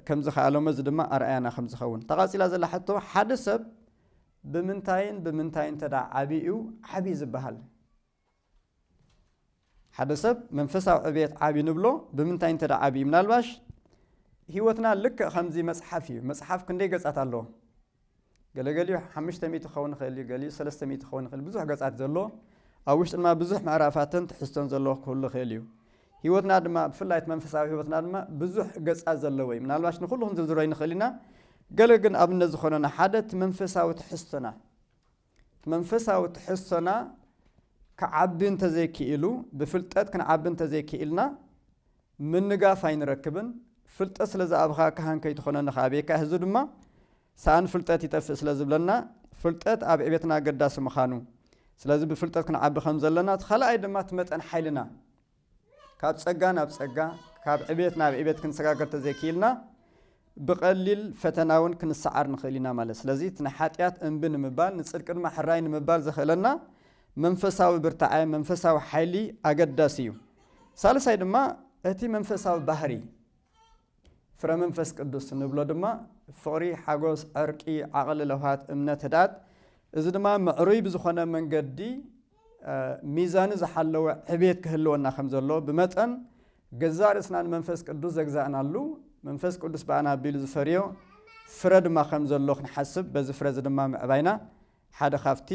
ከም ዝኸኣሎም እዚ ድማ ኣርኣያና ከም ዝኸውን ተቓጺላ ዘላ ሕቶ ሓደ ሰብ ብምንታይን ብምንታይን ተዳ ዓብዩ ዓብዪ ዝበሃል ሓደ ሰብ መንፈሳዊ ዕብየት ዓብዩ ንብሎ ብምንታይ እንተ ዓብዩ ምናልባሽ ህይወትና ልክዕ ከምዚ መፅሓፍ እዩ መፅሓፍ ክንደይ ገፃት ኣለዎ ገለገሊኡ ሓሙሽተ ሚእቲ ክኸውን ይኽእል እዩ ገሊኡ ሰለስተ ሚእቲ ክኸውን ይኽእል ብዙሕ ገፃት ዘለዎ ኣብ ውሽጢ ድማ ብዙሕ ምዕራፋትን ትሕዝቶን ዘለዎ ክህሉ ይኽእል እዩ ህይወትና ድማ ብፍላይ እቲ መንፈሳዊ ህይወትና ድማ ብዙሕ ገፃት ዘለዎ እዩ ምናልባሽ ንኩሉ ክንዝርዝሮ ይንኽእል ኢና ገለ ግን ኣብነት ዝኾነና ሓደ እቲ መንፈሳዊ ትሕዝቶና መንፈሳዊ ትሕዝቶና ክዓቢ እንተ ዘይክኢሉ፣ ብፍልጠት ክንዓቢ እንተ ዘይክኢልና፣ ምንጋፍ ኣይንረክብን። ፍልጠት ስለ ዝኣብኻ ካህን ከይትኾነኒ ከ ኣበየካ ህዚ ድማ ሰኣን ፍልጠት ይጠፍእ ስለ ዝብለና፣ ፍልጠት ኣብ ዕቤትና ኣገዳሲ ምኻኑ፣ ስለዚ ብፍልጠት ክንዓቢ ከም ዘለና፣ እቲ ካልኣይ ድማ እቲ መጠን ሓይልና፣ ካብ ጸጋ ናብ ጸጋ፣ ካብ ዕቤት ናብ ዕቤት ክንሰጋገር እንተዘይክኢልና፣ ብቐሊል ፈተናውን ክንሰዓር ንኽእል ኢና ማለት እዩ። ስለዚ እቲ ንሓጢኣት እምቢ ንምባል፣ ንጽድቂ ድማ ሕራይ ንምባል ዘኽእለና መንፈሳዊ ብርታዐ፣ መንፈሳዊ ሓይሊ ኣገዳሲ እዩ። ሳልሳይ ድማ እቲ መንፈሳዊ ባህርይ፣ ፍረ መንፈስ ቅዱስ እንብሎ ድማ ፍቕሪ፣ ሓጎስ፣ ዕርቂ፣ ዓቕሊ፣ ለውሃት፣ እምነት፣ ህድኣት፣ እዚ ድማ ምዕሩይ ብዝኾነ መንገዲ ሚዛኑ ዝሓለወ ዕቤት ክህልወና ከም ዘሎ ብመጠን ገዛእ ርእስና ንመንፈስ ቅዱስ ዘግዛእናሉ መንፈስ ቅዱስ ብኣና ኣቢሉ ዝፈርዮ ፍረ ድማ ከም ዘሎ ክንሓስብ በዚ ፍረ እዚ ድማ ምዕባይና ሓደ ካብቲ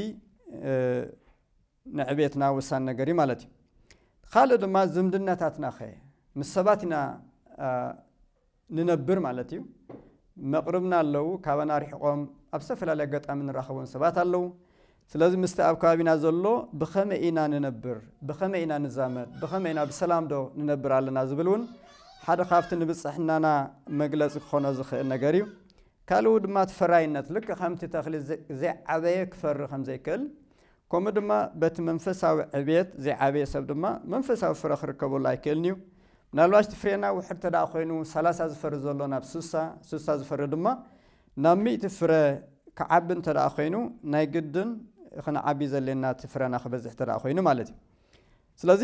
ንዕቤትና ወሳኒ ነገር እዩ ማለት እዩ። ኻልእ ድማ ዝምድናታትናኸ ምስ ሰባት ኢና ንነብር ማለት እዩ። መቕርብና ኣለው፣ ካባና ርሒቖም ኣብ ዝተፈላለየ ኣጋጣሚ ንራኸቦም ሰባት ኣለው። ስለዚ ምስቲ ኣብ ከባቢና ዘሎ ብኸመይ ኢና ንነብር፣ ብኸመይ ኢና ንዛመድ፣ ብኸመይ ኢና ብሰላምዶ ንነብር ኣለና ዝብል እውን ሓደ ካብቲ ንብፅሕናና መግለፂ ክኾኖ ዝኽእል ነገር እዩ። ካልኡ ድማ እቲ ፈራይነት ልክዕ ከምቲ ተኽሊ ዘይዓበየ ክፈሪ ከምዘይክእል ከምኡ ድማ በቲ መንፈሳዊ ዕብየት ዘይዓበየ ሰብ ድማ መንፈሳዊ ፍረ ክርከበሉ ኣይክእልን እዩ። ምናልባሽ እቲ ፍሬና ውሕድ እንተደኣ ኮይኑ ሰላሳ ዝፈሪ ዘሎ ናብ ስሳ፣ ስሳ ዝፈሪ ድማ ናብ ሚእቲ ፍረ ክዓቢ እንተደኣ ኮይኑ ናይ ግድን ክንዓቢ ዘድልየና እቲ ፍረና ክበዝሕ እንተደኣ ኮይኑ ማለት እዩ። ስለዚ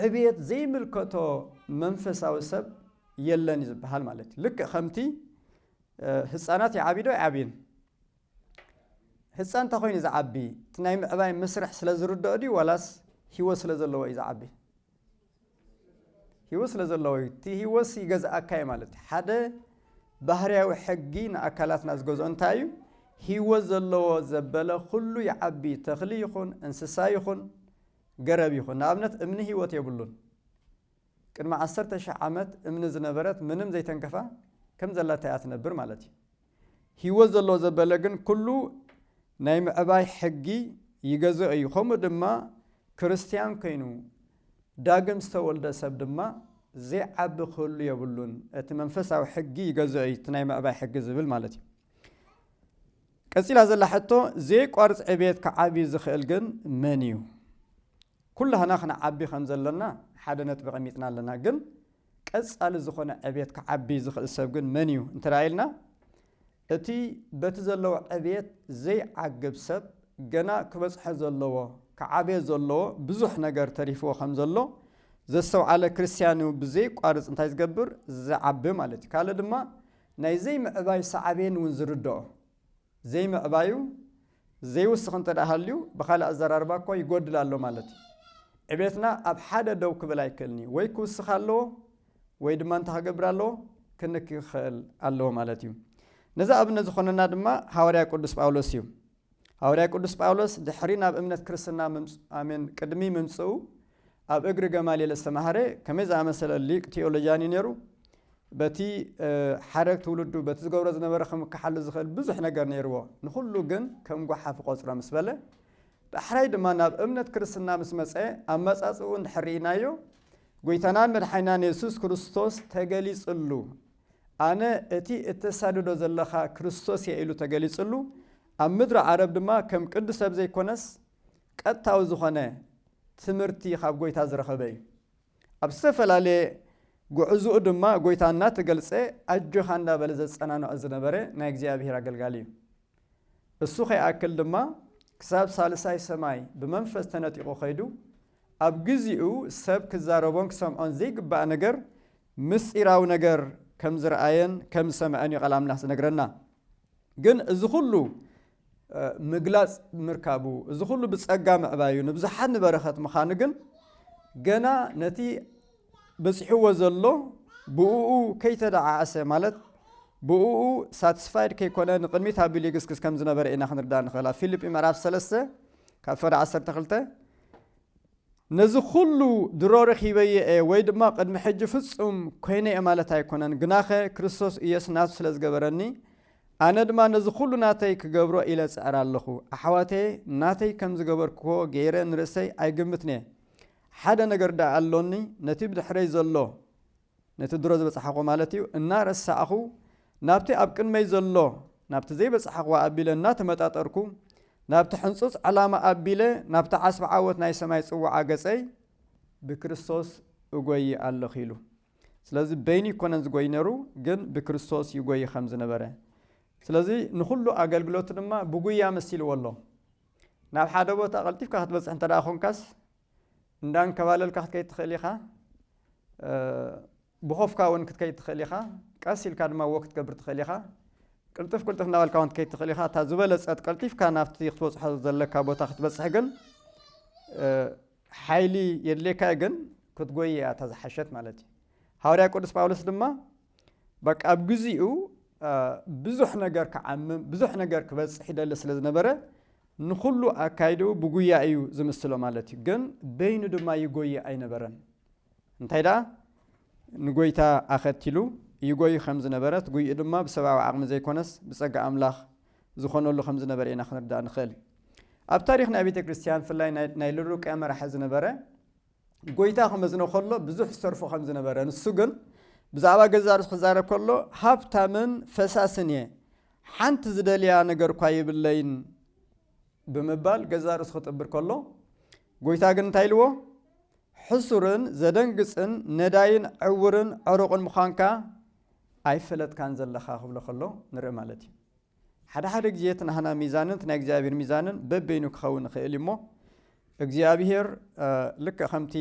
ዕብየት ዘይምልከቶ መንፈሳዊ ሰብ የለን እዩ ዝበሃል ማለት እዩ። ልክዕ ከምቲ ህፃናት ይዓብዩ ዶ ኣይዓብዩን? ህጻን እንተኾይኑ ዝዓቢ እቲ ናይ ምዕባይ መስርሕ ስለ ዝርድኦ ድዩ ዋላስ ሂወት ስለ ዘለዎ እዩ ዝዓቢ? ሂወት ስለ ዘለዎ እዩ። እቲ ሂወትሲ ይገዝኣካ እዩ ማለት እዩ። ሓደ ባህርያዊ ሕጊ ንኣካላትና ዝገዝኦ እንታይ እዩ? ሂወት ዘለዎ ዘበለ ኩሉ ይዓቢ፣ ተኽሊ ይኹን፣ እንስሳ ይኹን፣ ገረብ ይኹን። ንኣብነት እምኒ ሂወት የብሉን። ቅድሚ ዓሰርተ ሽሕ ዓመት እምኒ ዝነበረት ምንም ዘይተንከፋ ከም ዘላታ እያ ትነብር ማለት እዩ። ሂወት ዘለዎ ዘበለ ግን ኩሉ ናይ ምዕባይ ሕጊ ይገዝኦ እዩ ከምኡ ድማ ክርስትያን ኮይኑ ዳግም ዝተወልደ ሰብ ድማ ዘይዓቢ ክህሉ የብሉን እቲ መንፈሳዊ ሕጊ ይገዝኦ እዩ እቲ ናይ ምዕባይ ሕጊ ዝብል ማለት እዩ ቀጺላ ዘላ ሕቶ ዘይቋርጽ ዕብየት ክዓቢ ዝኽእል ግን መን እዩ ኩላህና ክንዓቢ ከም ዘለና ሓደ ነጥቢ ቀሚጥና ኣለና ግን ቀጻሊ ዝኾነ ዕብየት ክዓቢ ዝኽእል ሰብ ግን መን እዩ እንተድኣ ኢልና፣ እቲ በቲ ዘለዎ ዕብየት ዘይዓግብ ሰብ ገና ክበጽሖ ዘለዎ፣ ክዓብዮ ዘለዎ ብዙሕ ነገር ተሪፍዎ ከም ዘሎ ዘስተውዓለ ክርስትያን እዩ ብዘየቋርጽ እንታይ ዝገብር? ዝዓቢ ማለት እዩ። ካልእ ድማ ናይ ዘይምዕባይ ሳዕቤን እውን ዝርድኦ። ዘይምዕባዩ ዘይውስኽ እንተድኣ ሃልዩ ብኻልእ ኣዘራርባ እኮ ይጎድል ኣሎ ማለት እዩ። ዕቤትና ኣብ ሓደ ደው ክብል ኣይክእልን እዩ። ወይ ክውስኽ ኣለዎ ወይ ድማ እንታይ ክገብር ኣለዎ? ክንኪ ክኸእል ኣለዎ ማለት እዩ። ነዚ ኣብነት ዝኾነና ድማ ሃዋርያ ቅዱስ ጳውሎስ እዩ። ሃዋርያ ቅዱስ ጳውሎስ ድሕሪ ናብ እምነት ክርስትና ምምጽ ኣሜን ቅድሚ ምምጽኡ ኣብ እግሪ ገማልኤል ዝተማህረ ከመይ ዝኣመሰለ ሊቅ ቲዮሎጂያን እዩ ነይሩ። በቲ ሓረግ ትውልዱ በቲ ዝገብሮ ዝነበረ ክምክሓሉ ዝኽእል ብዙሕ ነገር ነይርዎ። ንኹሉ ግን ከም ጓሓፍ እቆጽሮ ምስ በለ ዳሕራይ ድማ ናብ እምነት ክርስትና ምስ መጸ ኣመጻጽኡ እንድሕር ርኢናዮ ጐይታናን መድሓኒናን የሱስ ክርስቶስ ተገሊጽሉ ኣነ እቲ እተሳድዶ ዘለኻ ክርስቶስ እየ ኢሉ ተገሊጽሉ ኣብ ምድሪ ዓረብ ድማ ከም ቅዱስ ሰብ ዘይኮነስ ቀጥታዊ ዝኾነ ትምህርቲ ኻብ ጎይታ ዝረኸበ እዩ። ኣብ ዝተፈላለየ ጉዕዝኡ ድማ ጎይታ እናተገልጸ ኣጆኻ እንዳበለ ዘጸናንዖ ዝነበረ ናይ እግዚኣብሔር ኣገልጋሊ እዩ። እሱ ኸይኣክል ድማ ክሳብ ሳልሳይ ሰማይ ብመንፈስ ተነጢቑ ኸይዱ ኣብ ግዚኡ ሰብ ክዛረቦን ክሰምዖን ዘይግባእ ነገር ምስጢራዊ ነገር ከም ዝረኣየን ከም ዝሰምዐን እዩ ቃል ኣምላኽ ዝነግረና። ግን እዚ ኹሉ ምግላጽ ምርካቡ፣ እዚ ኹሉ ብጸጋ ምዕባዩ፣ ንብዙሓት ንበረኸት ምኻኑ ግን ገና ነቲ በጺሕዎ ዘሎ ብእኡ ከይተደዓዓሰ ማለት ብእኡ ሳትስፋይድ ከይኮነ ንቕድሚት ኣቢሉ ይግስግስ ከም ዝነበረ ኢና ክንርዳእ ንኽእል። ኣብ ፊልጲ ምዕራፍ ሰለስተ ካብ ፈደ ዓሰርተ ክልተ ነዚ ዅሉ ድሮ ረኺበዮ እየ ወይ ድማ ቕድሚ ሕጂ ፍጹም ኰይነ እየ ማለት ኣይኰነን፣ ግናኸ ክርስቶስ ኢየሱስ ናቱ ስለ ዝገበረኒ፣ ኣነ ድማ ነዚ ዅሉ ናተይ ክገብሮ ኢለ እጽዕር ኣለኹ። ኣሕዋተየ፣ ናተይ ከም ዝገበርክዎ ገይረ ንርእሰይ ኣይግምትን'የ። ሓደ ነገር ደኣ ኣሎኒ፣ ነቲ ብድሕረይ ዘሎ፣ ነቲ ድሮ ዝበጽሓኩዎ ማለት እዩ፣ እናረሳዕኩ፣ ናብቲ ኣብ ቅድመይ ዘሎ፣ ናብቲ ዘይበጽሓኩዎ ኣቢለ እናተመጣጠርኩ፣ ናብቲ ሕንጹጽ ዕላማ ኣቢለ፣ ናብቲ ዓስቢ ዓወት ናይ ሰማይ ጽውዓ ገጸይ ብክርስቶስ እጎዪ ኣሎኩ ኢሉ። ስለዚ በይኑ ኣይኮነን ዝጎዪ ነሩ፣ ግን ብክርስቶስ ይጎዪ ከም ዝነበረ። ስለዚ ንኩሉ ኣገልግሎቱ ድማ ብጉያ መሲልዎ ኣሎ። ናብ ሓደ ቦታ ቀልጢፍካ ክትበጽሕ እንተደኣ ኮንካስ፣ እንዳንከባለልካ ክትከይድ ትኽእል ኢኻ፣ ብኾፍካ እውን ክትከይድ ትኽእል ኢኻ፣ ቀስ ኢልካ ድማ ዎክ ክትገብር ትኽእል ኢኻ፣ ቅልጥፍ ቅልጥፍ እናበልካ እውን ክትከይድ ትኽእል ኢኻ፣ እታ ዝበለጸት ቀልጢፍካ ናብቲ ክትበጽሖ ዘለካ ቦታ ክትበጽሕ ግን ሓይሊ የድልየካ እዩ፣ ግን ክትጎይ እያ እታ ዝሓሸት ማለት እዩ። ሃዋርያ ቅዱስ ጳውሎስ ድማ በቃ ኣብ ግዚኡ ብዙሕ ነገር ክዓምም ብዙሕ ነገር ክበጽሕ ይደሊ ስለ ዝነበረ ንኹሉ ኣካይድኡ ብጉያ እዩ ዝምስሎ ማለት እዩ። ግን በይኑ ድማ ይጎይ ኣይነበረን። እንታይ ደኣ ንጎይታ ኣኸቲሉ ይጎይ ከም ዝነበረት ጉይኡ ድማ ብሰብኣዊ ዓቕሚ ዘይኮነስ ብጸጋ ኣምላኽ ዝኾነሉ ከም ዝነበረ ኢና ክንርዳእ ንኽእል። ኣብ ታሪኽ ናይ ቤተ ክርስቲያን ብፍላይ ናይ ሉሩቅያ መራሒ ዝነበረ ጐይታ ኺመዝኖ ኸሎ ብዙሕ ዝተርፎ ኸም ዝነበረ፣ ንሱ ግን ብዛዕባ ገዛእ ርእሱ ኺዛረብ ከሎ፣ ሃብታምን ፈሳስን እየ፣ ሓንቲ ዝደልያ ነገር እኳ የብለይን ብምባል ገዛእ ርእሱ ኺጥብር ከሎ፣ ጐይታ ግን እንታይ ኢልዎ? ሕሱርን ዘደንግጽን ነዳይን ዕውርን ዕሩቕን ምዃንካ ኣይፈለጥካን ዘለኻ ኽብሎ ኸሎ ንርኢ ማለት እዩ። ሓደ ሓደ ግዜ እቲ ናህና ሚዛንን እቲ ናይ እግዚኣብሔር ሚዛንን በበይኑ ክኸውን ይኽእል እዩ እሞ እግዚኣብሔር ልክዕ ከምቲ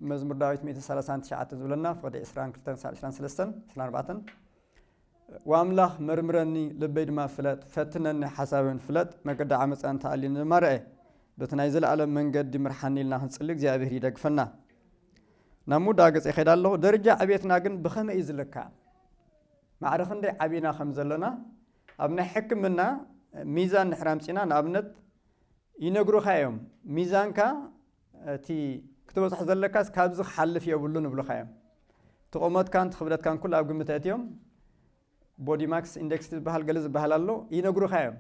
መዝሙር ዳዊት 139 ዝብለና ፍቕዲ 22-23 ወኣምላኽ መርምረኒ ልበይ ድማ ፍለጥ ፈትነኒ ሓሳብን ፍለጥ መገዲ ዓመፃ እንተኣልዩኒ ድማ ርአ በቲ ናይ ዘለኣለም መንገዲ ምርሓኒ ኢልና ክንፅሊ እግዚኣብሔር ይደግፈና ናብ ምውዳእ ገፅ ይኸይድ ኣለኹ ደረጃ ዕቤትና ግን ብኸመይ እዩ ዝልካዕ ማዕረ ክንደይ ዓቢና ከም ዘሎና ኣብ ናይ ሕክምና ሚዛን ድሕር ኣምጺና ንኣብነት ይነግሩኻ እዮም ሚዛንካ እቲ ክትበጽሖ ዘለካስ ካብዚ ክሓልፍ የብሉን ይብሉኻ እዮም እቲ ቁመትካን እቲ ክብደትካን ኩሉ ኣብ ግምት ኣእትዮም ቦዲ ማክስ ኢንደክስ ዝበሃል ገለ ዝበሃል ኣሎ ይነግሩኻ እዮም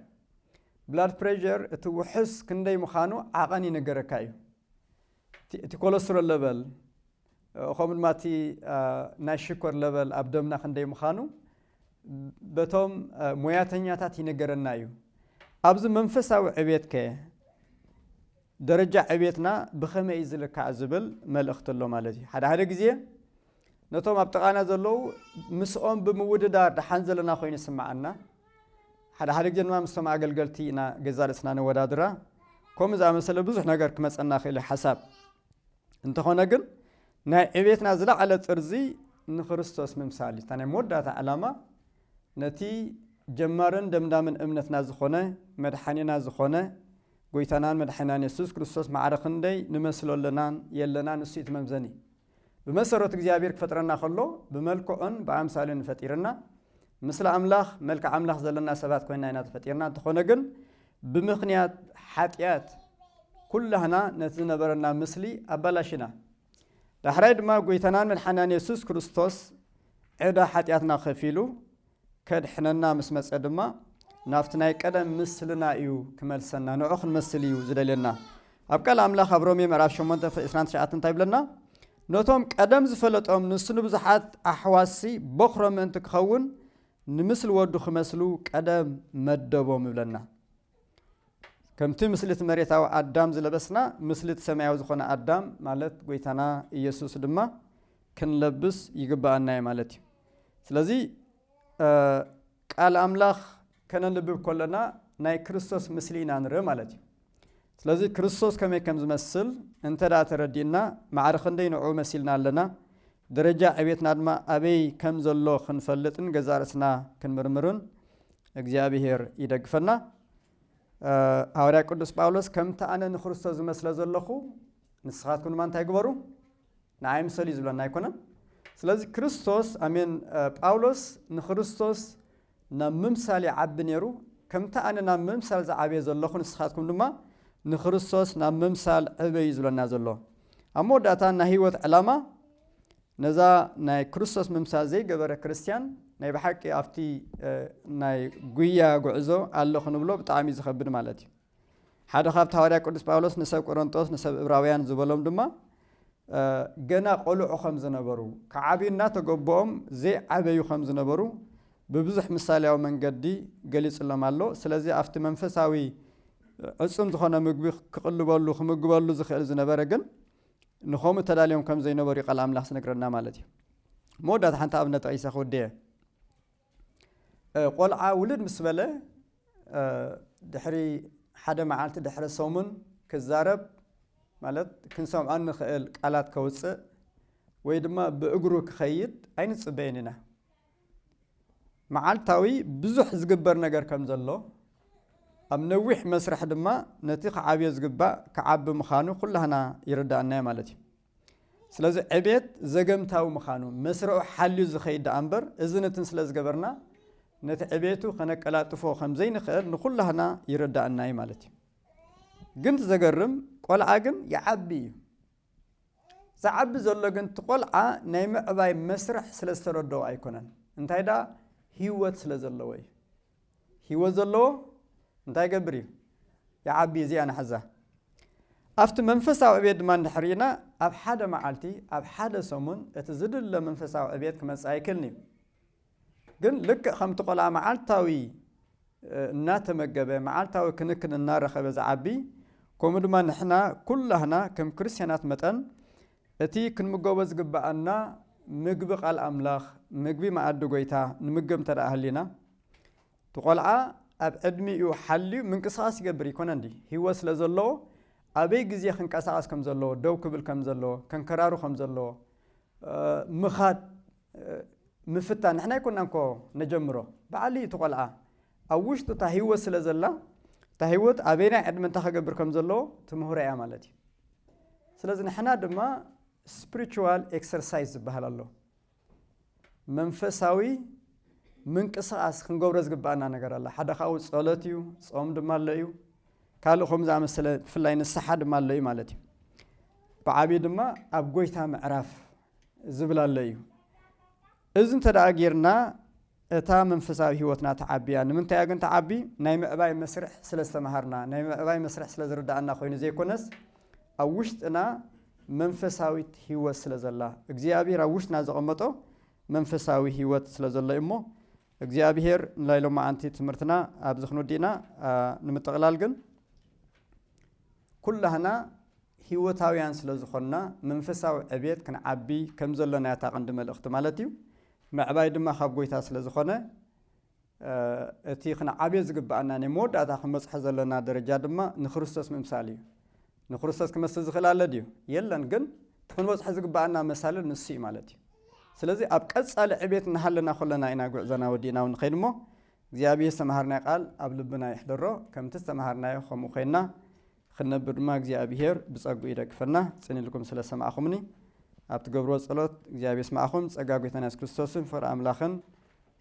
ብላድ ፕሬዠር እቲ ውሑስ ክንደይ ምዃኑ ዓቐን ይነገረካ እዩ እቲ ኮለስትሮል ለበል ከምኡ ድማ እቲ ናይ ሽኮር ለበል ኣብ ደምና ክንደይ ምዃኑ በቶም ሞያተኛታት ይነገረና እዩ። ኣብዚ መንፈሳዊ ዕቤት ከ ደረጃ ዕቤትና ብኸመይ እዩ ዝልካዕ ዝብል መልእኽቲ ኣሎ ማለት እዩ። ሓደ ሓደ ግዜ ነቶም ኣብ ጥቓና ዘለዉ ምስኦም ብምውድዳር ደሓን ዘለና ኮይኑ ይስምዓና። ሓደ ሓደ ግዜ ድማ ምስቶም ኣገልገልቲ ኢና ገዛ ርእስና ነወዳድራ። ከምኡ ዝኣመሰለ ብዙሕ ነገር ክመፀና ክእል ሓሳብ እንተኾነ ግን ናይ ዕቤትና ዝለዓለ ጥርዚ ንክርስቶስ ምምሳል እዩ። እታ ናይ መወዳእታ ዕላማ ነቲ ጀማርን ደምዳምን እምነትና ዝኾነ መድሓኒና ዝኾነ ጎይታናን መድሓኒናን የሱስ ክርስቶስ ማዕረ ክንደይ ንመስሎ ኣለናን የለናን ንሱ እዩ እቲ መምዘኒ። ብመሰረቱ እግዚኣብሔር ክፈጥረና ከሎ ብመልክዑን ብኣምሳሉን እዩ ፈጢርና። ምስሊ ኣምላኽ መልክዕ ኣምላኽ ዘለና ሰባት ኮይና ኢና ተፈጢርና። እንተኾነ ግን ብምኽንያት ሓጢኣት ኩላህና ነቲ ዝነበረና ምስሊ ኣባላሽና። ዳሕራይ ድማ ጎይታናን መድሓኒናን የሱስ ክርስቶስ ዕዳ ሓጢኣትና ከፊሉ ከድሕነና ምስ መጸ ድማ ናብቲ ናይ ቀደም ምስልና እዩ ክመልሰና ንዑ ክንመስል እዩ ዝደልየና ኣብ ቃል ኣምላኽ ኣብ ሮሜ ምዕራፍ 8 ፍቅ 29 እንታይ ይብለና ነቶም ቀደም ዝፈለጦም ንሱ ንብዙሓት ኣሕዋሲ ቦኽሮም ምእንቲ ክኸውን ንምስሊ ወዱ ክመስሉ ቀደም መደቦም እብለና። ከምቲ ምስሊ እቲ መሬታዊ ኣዳም ዝለበስና፣ ምስሊ እቲ ሰማያዊ ዝኾነ ኣዳም ማለት ጎይታና ኢየሱስ ድማ ክንለብስ ይግብኣና እዩ ማለት እዩ። ስለዚ ቃል ኣምላኽ ከነንብብ ከሎና ናይ ክርስቶስ ምስሊ ኢና ንርኢ ማለት እዩ። ስለዚ ክርስቶስ ከመይ ከም ዝመስል እንተ ደኣ ተረዲእና፣ ማዕረ ክንደይ ንዕኡ መሲልና ኣለና፣ ደረጃ ዕቤትና ድማ ኣበይ ከም ዘሎ ክንፈልጥ ን ገዛእ ርእስና ክንምርምርን እግዚኣብሄር ይደግፈና። ሃዋርያ ቅዱስ ጳውሎስ ከምቲ ኣነ ንክርስቶስ ዝመስለ ዘለኹ ንስኻትኩም ድማ እንታይ ግበሩ ንዓይ ምሰሉ እዩ ዝብለና ኣይኮነን። ስለዚ ክርስቶስ ኣሜን ጳውሎስ ንክርስቶስ ናብ ምምሳል ይዓቢ ነይሩ፣ ከምቲ ኣነ ናብ ምምሳል ዝዓብየ ዘለኹ ንስኻትኩም ድማ ንክርስቶስ ናብ ምምሳል ዕበዩ ዝብለና ዘሎ። ኣብ መወዳእታ ናይ ህይወት ዕላማ ነዛ ናይ ክርስቶስ ምምሳል ዘይገበረ ክርስትያን ናይ ብሓቂ ኣብቲ ናይ ጉያ ጉዕዞ ኣሎ ክንብሎ ብጣዕሚ እዩ ዝኸብድ ማለት እዩ። ሓደ ካብቲ ሃዋርያ ቅዱስ ጳውሎስ ንሰብ ቈረንጦስ ንሰብ እብራውያን ዝበሎም ድማ ገና ቈልዑ ኸም ዝነበሩ ክዓብዩ እናተገበኦም ዘይዓበዩ ኸም ዝነበሩ ብብዙሕ ምሳልያዊ መንገዲ ገሊጽሎም ኣሎ። ስለዚ ኣብቲ መንፈሳዊ ዕጹም ዝኾነ ምግቢ ክቕልበሉ ክምግበሉ ዝኽእል ዝነበረ ግን ንኸምኡ ተዳልዮም ከም ዘይነበሩ ቃል ኣምላኽ ዝነግረና ማለት እዩ። መወዳእታ ሓንቲ ኣብነት ጠቒሰ ክውድእ እየ። ቆልዓ ውልድ ምስ በለ ድሕሪ ሓደ መዓልቲ ድሕሪ ሰሙን ክዛረብ ማለት ክንሰምዖ እንኽእል ቃላት ከውፅእ ወይ ድማ ብእግሩ ክኸይድ ኣይንፅበይን ኢና። መዓልታዊ ብዙሕ ዝግበር ነገር ከም ዘሎ ኣብ ነዊሕ መስርሕ ድማ ነቲ ክዓብዮ ዝግባእ ክዓቢ ምዃኑ ኩላህና ይርዳእና ማለት እዩ። ስለዚ ዕቤት ዘገምታዊ ምኻኑ መስርዑ ሓልዩ ዝኸይድ ደኣ እምበር እዝን እትን ስለ ዝገበርና ነቲ ዕቤቱ ከነቀላጥፎ ከም ዘይንኽእል ንኹላህና ይረዳእና እዩ ማለት እዩ። ግን እቲ ዘገርም ቆልዓ ግን ይዓቢ እዩ። ዝዓቢ ዘሎ ግን እቲ ቆልዓ ናይ ምዕባይ መስርሕ ስለ ዝተረደኦ ኣይኮነን እንታይ ደኣ ህይወት ስለ ዘለዎ እዩ። ሂወት ዘለዎ እንታይ ይገብር እዩ? ይዓቢ እዩ እዚኣ ንሓዛ። ኣብቲ መንፈሳዊ ዕብየት ድማ እንድሕር ርኢና ኣብ ሓደ መዓልቲ ኣብ ሓደ ሰሙን እቲ ዝድለ መንፈሳዊ ዕብየት ክመጽእ ኣይክልን እዩ። ግን ልክዕ ከምቲ ቆልዓ መዓልታዊ እናተመገበ መዓልታዊ ክንክን እናረኸበ ዝዓቢ ከምኡ ድማ ንሕና ኩላህና ከም ክርስትያናት መጠን እቲ ክንምገቦ ዝግብኣና ምግቢ ቃል ኣምላኽ፣ ምግቢ መኣዲ ጐይታ፣ ንምገብ እንተደኣ ሃሊና፣ እቲ ቆልዓ ኣብ ዕድሚኡ ሓልዩ ምንቅስቓስ ይገብር እይኮነን ድዩ? ህይወት ስለ ዘለዎ ኣበይ ግዜ ክንቀሳቐስ ከም ዘለዎ፣ ደው ክብል ከም ዘለዎ፣ ከንከራሩ ከም ዘለዎ፣ ምኻድ፣ ምፍታን ንሕና ኣይኮናን እኮ ነጀምሮ በዓል እዩ እቲ ቆልዓ ኣብ ውሽጡ እታ ህይወት ስለ ዘላ እታ ህይወት ኣበይናይ ዕድመ እንታይ ከገብር ከም ዘለዎ ትምህሮ እያ ማለት እዩ ስለዚ ንሕና ድማ ስፕሪቹዋል ኤክሰርሳይዝ ዝበሃል ኣሎ መንፈሳዊ ምንቅስቓስ ክንገብሮ ዝግባኣና ነገር ኣላ ሓደ ካብኡ ጸሎት እዩ ጾም ድማ ኣሎ እዩ ካልእ ከም ዝኣመሰለ ብፍላይ ንስሓ ድማ ኣሎ እዩ ማለት እዩ ብዓብዪ ድማ ኣብ ጎይታ ምዕራፍ ዝብል ኣሎ እዩ እዚ እንተ ደኣ ጌርና እታ መንፈሳዊ ህይወትና ትዓቢ እያ። ንምንታይ እያ ግን ትዓቢ? ናይ ምዕባይ መስርሕ ስለ ዝተምሃርና፣ ናይ ምዕባይ መስርሕ ስለ ዝርድኣና ኮይኑ ዘይኮነስ ኣብ ውሽጥና መንፈሳዊት ህይወት ስለ ዘላ፣ እግዚኣብሄር ኣብ ውሽጥና ዘቐመጦ መንፈሳዊ ህይወት ስለ ዘሎ እዩ እሞ እግዚኣብሄር ንላይ ሎማዓንቲ ትምህርትና ኣብዚ ክንውዲእና ንምጥቕላል ግን ኩላህና ሂወታውያን ስለ ዝኾንና መንፈሳዊ ዕብየት ክንዓቢ ከም ዘሎና እያ እታ ቀንዲ መልእኽቲ ማለት እዩ ምዕባይ ድማ ካብ ጎይታ ስለ ዝኾነ እቲ ክንዓብዮ ዝግብኣና ናይ መወዳእታ ክንበጽሖ ዘለና ደረጃ ድማ ንክርስቶስ ምምሳል እዩ ንክርስቶስ ክመስል ዝኽእል ኣለ ድዩ? የለን ግን እቲ ክንበጽሖ ዝግብኣና መሳልል ንሱ እዩ ማለት እዩ። ስለዚ ኣብ ቀጻሊ ዕቤት እናሃለና ኮለና ኢና ጉዕዞና ወዲእና ንኸይድ እሞ እግዚኣብሔር ዝተምሃርናዮ ቃል ኣብ ልብና የሕድሮ ከምቲ ዝተምሃርናዮ ከምኡ ኮይንና ክንነብር ድማ እግዚኣብሔር ብጸግኡ ይደግፈና። ጽን ኢልኩም ስለ ሰማዕኹምኒ ኣብ ትገብርዎ ጸሎት እግዚኣብሔር ይስማዕኹም። ጸጋ ጎይታና የሱስ ክርስቶስን ፍቕሪ ኣምላኽን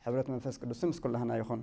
ሕብረት መንፈስ ቅዱስን ምስ ኩላህና ይኹን።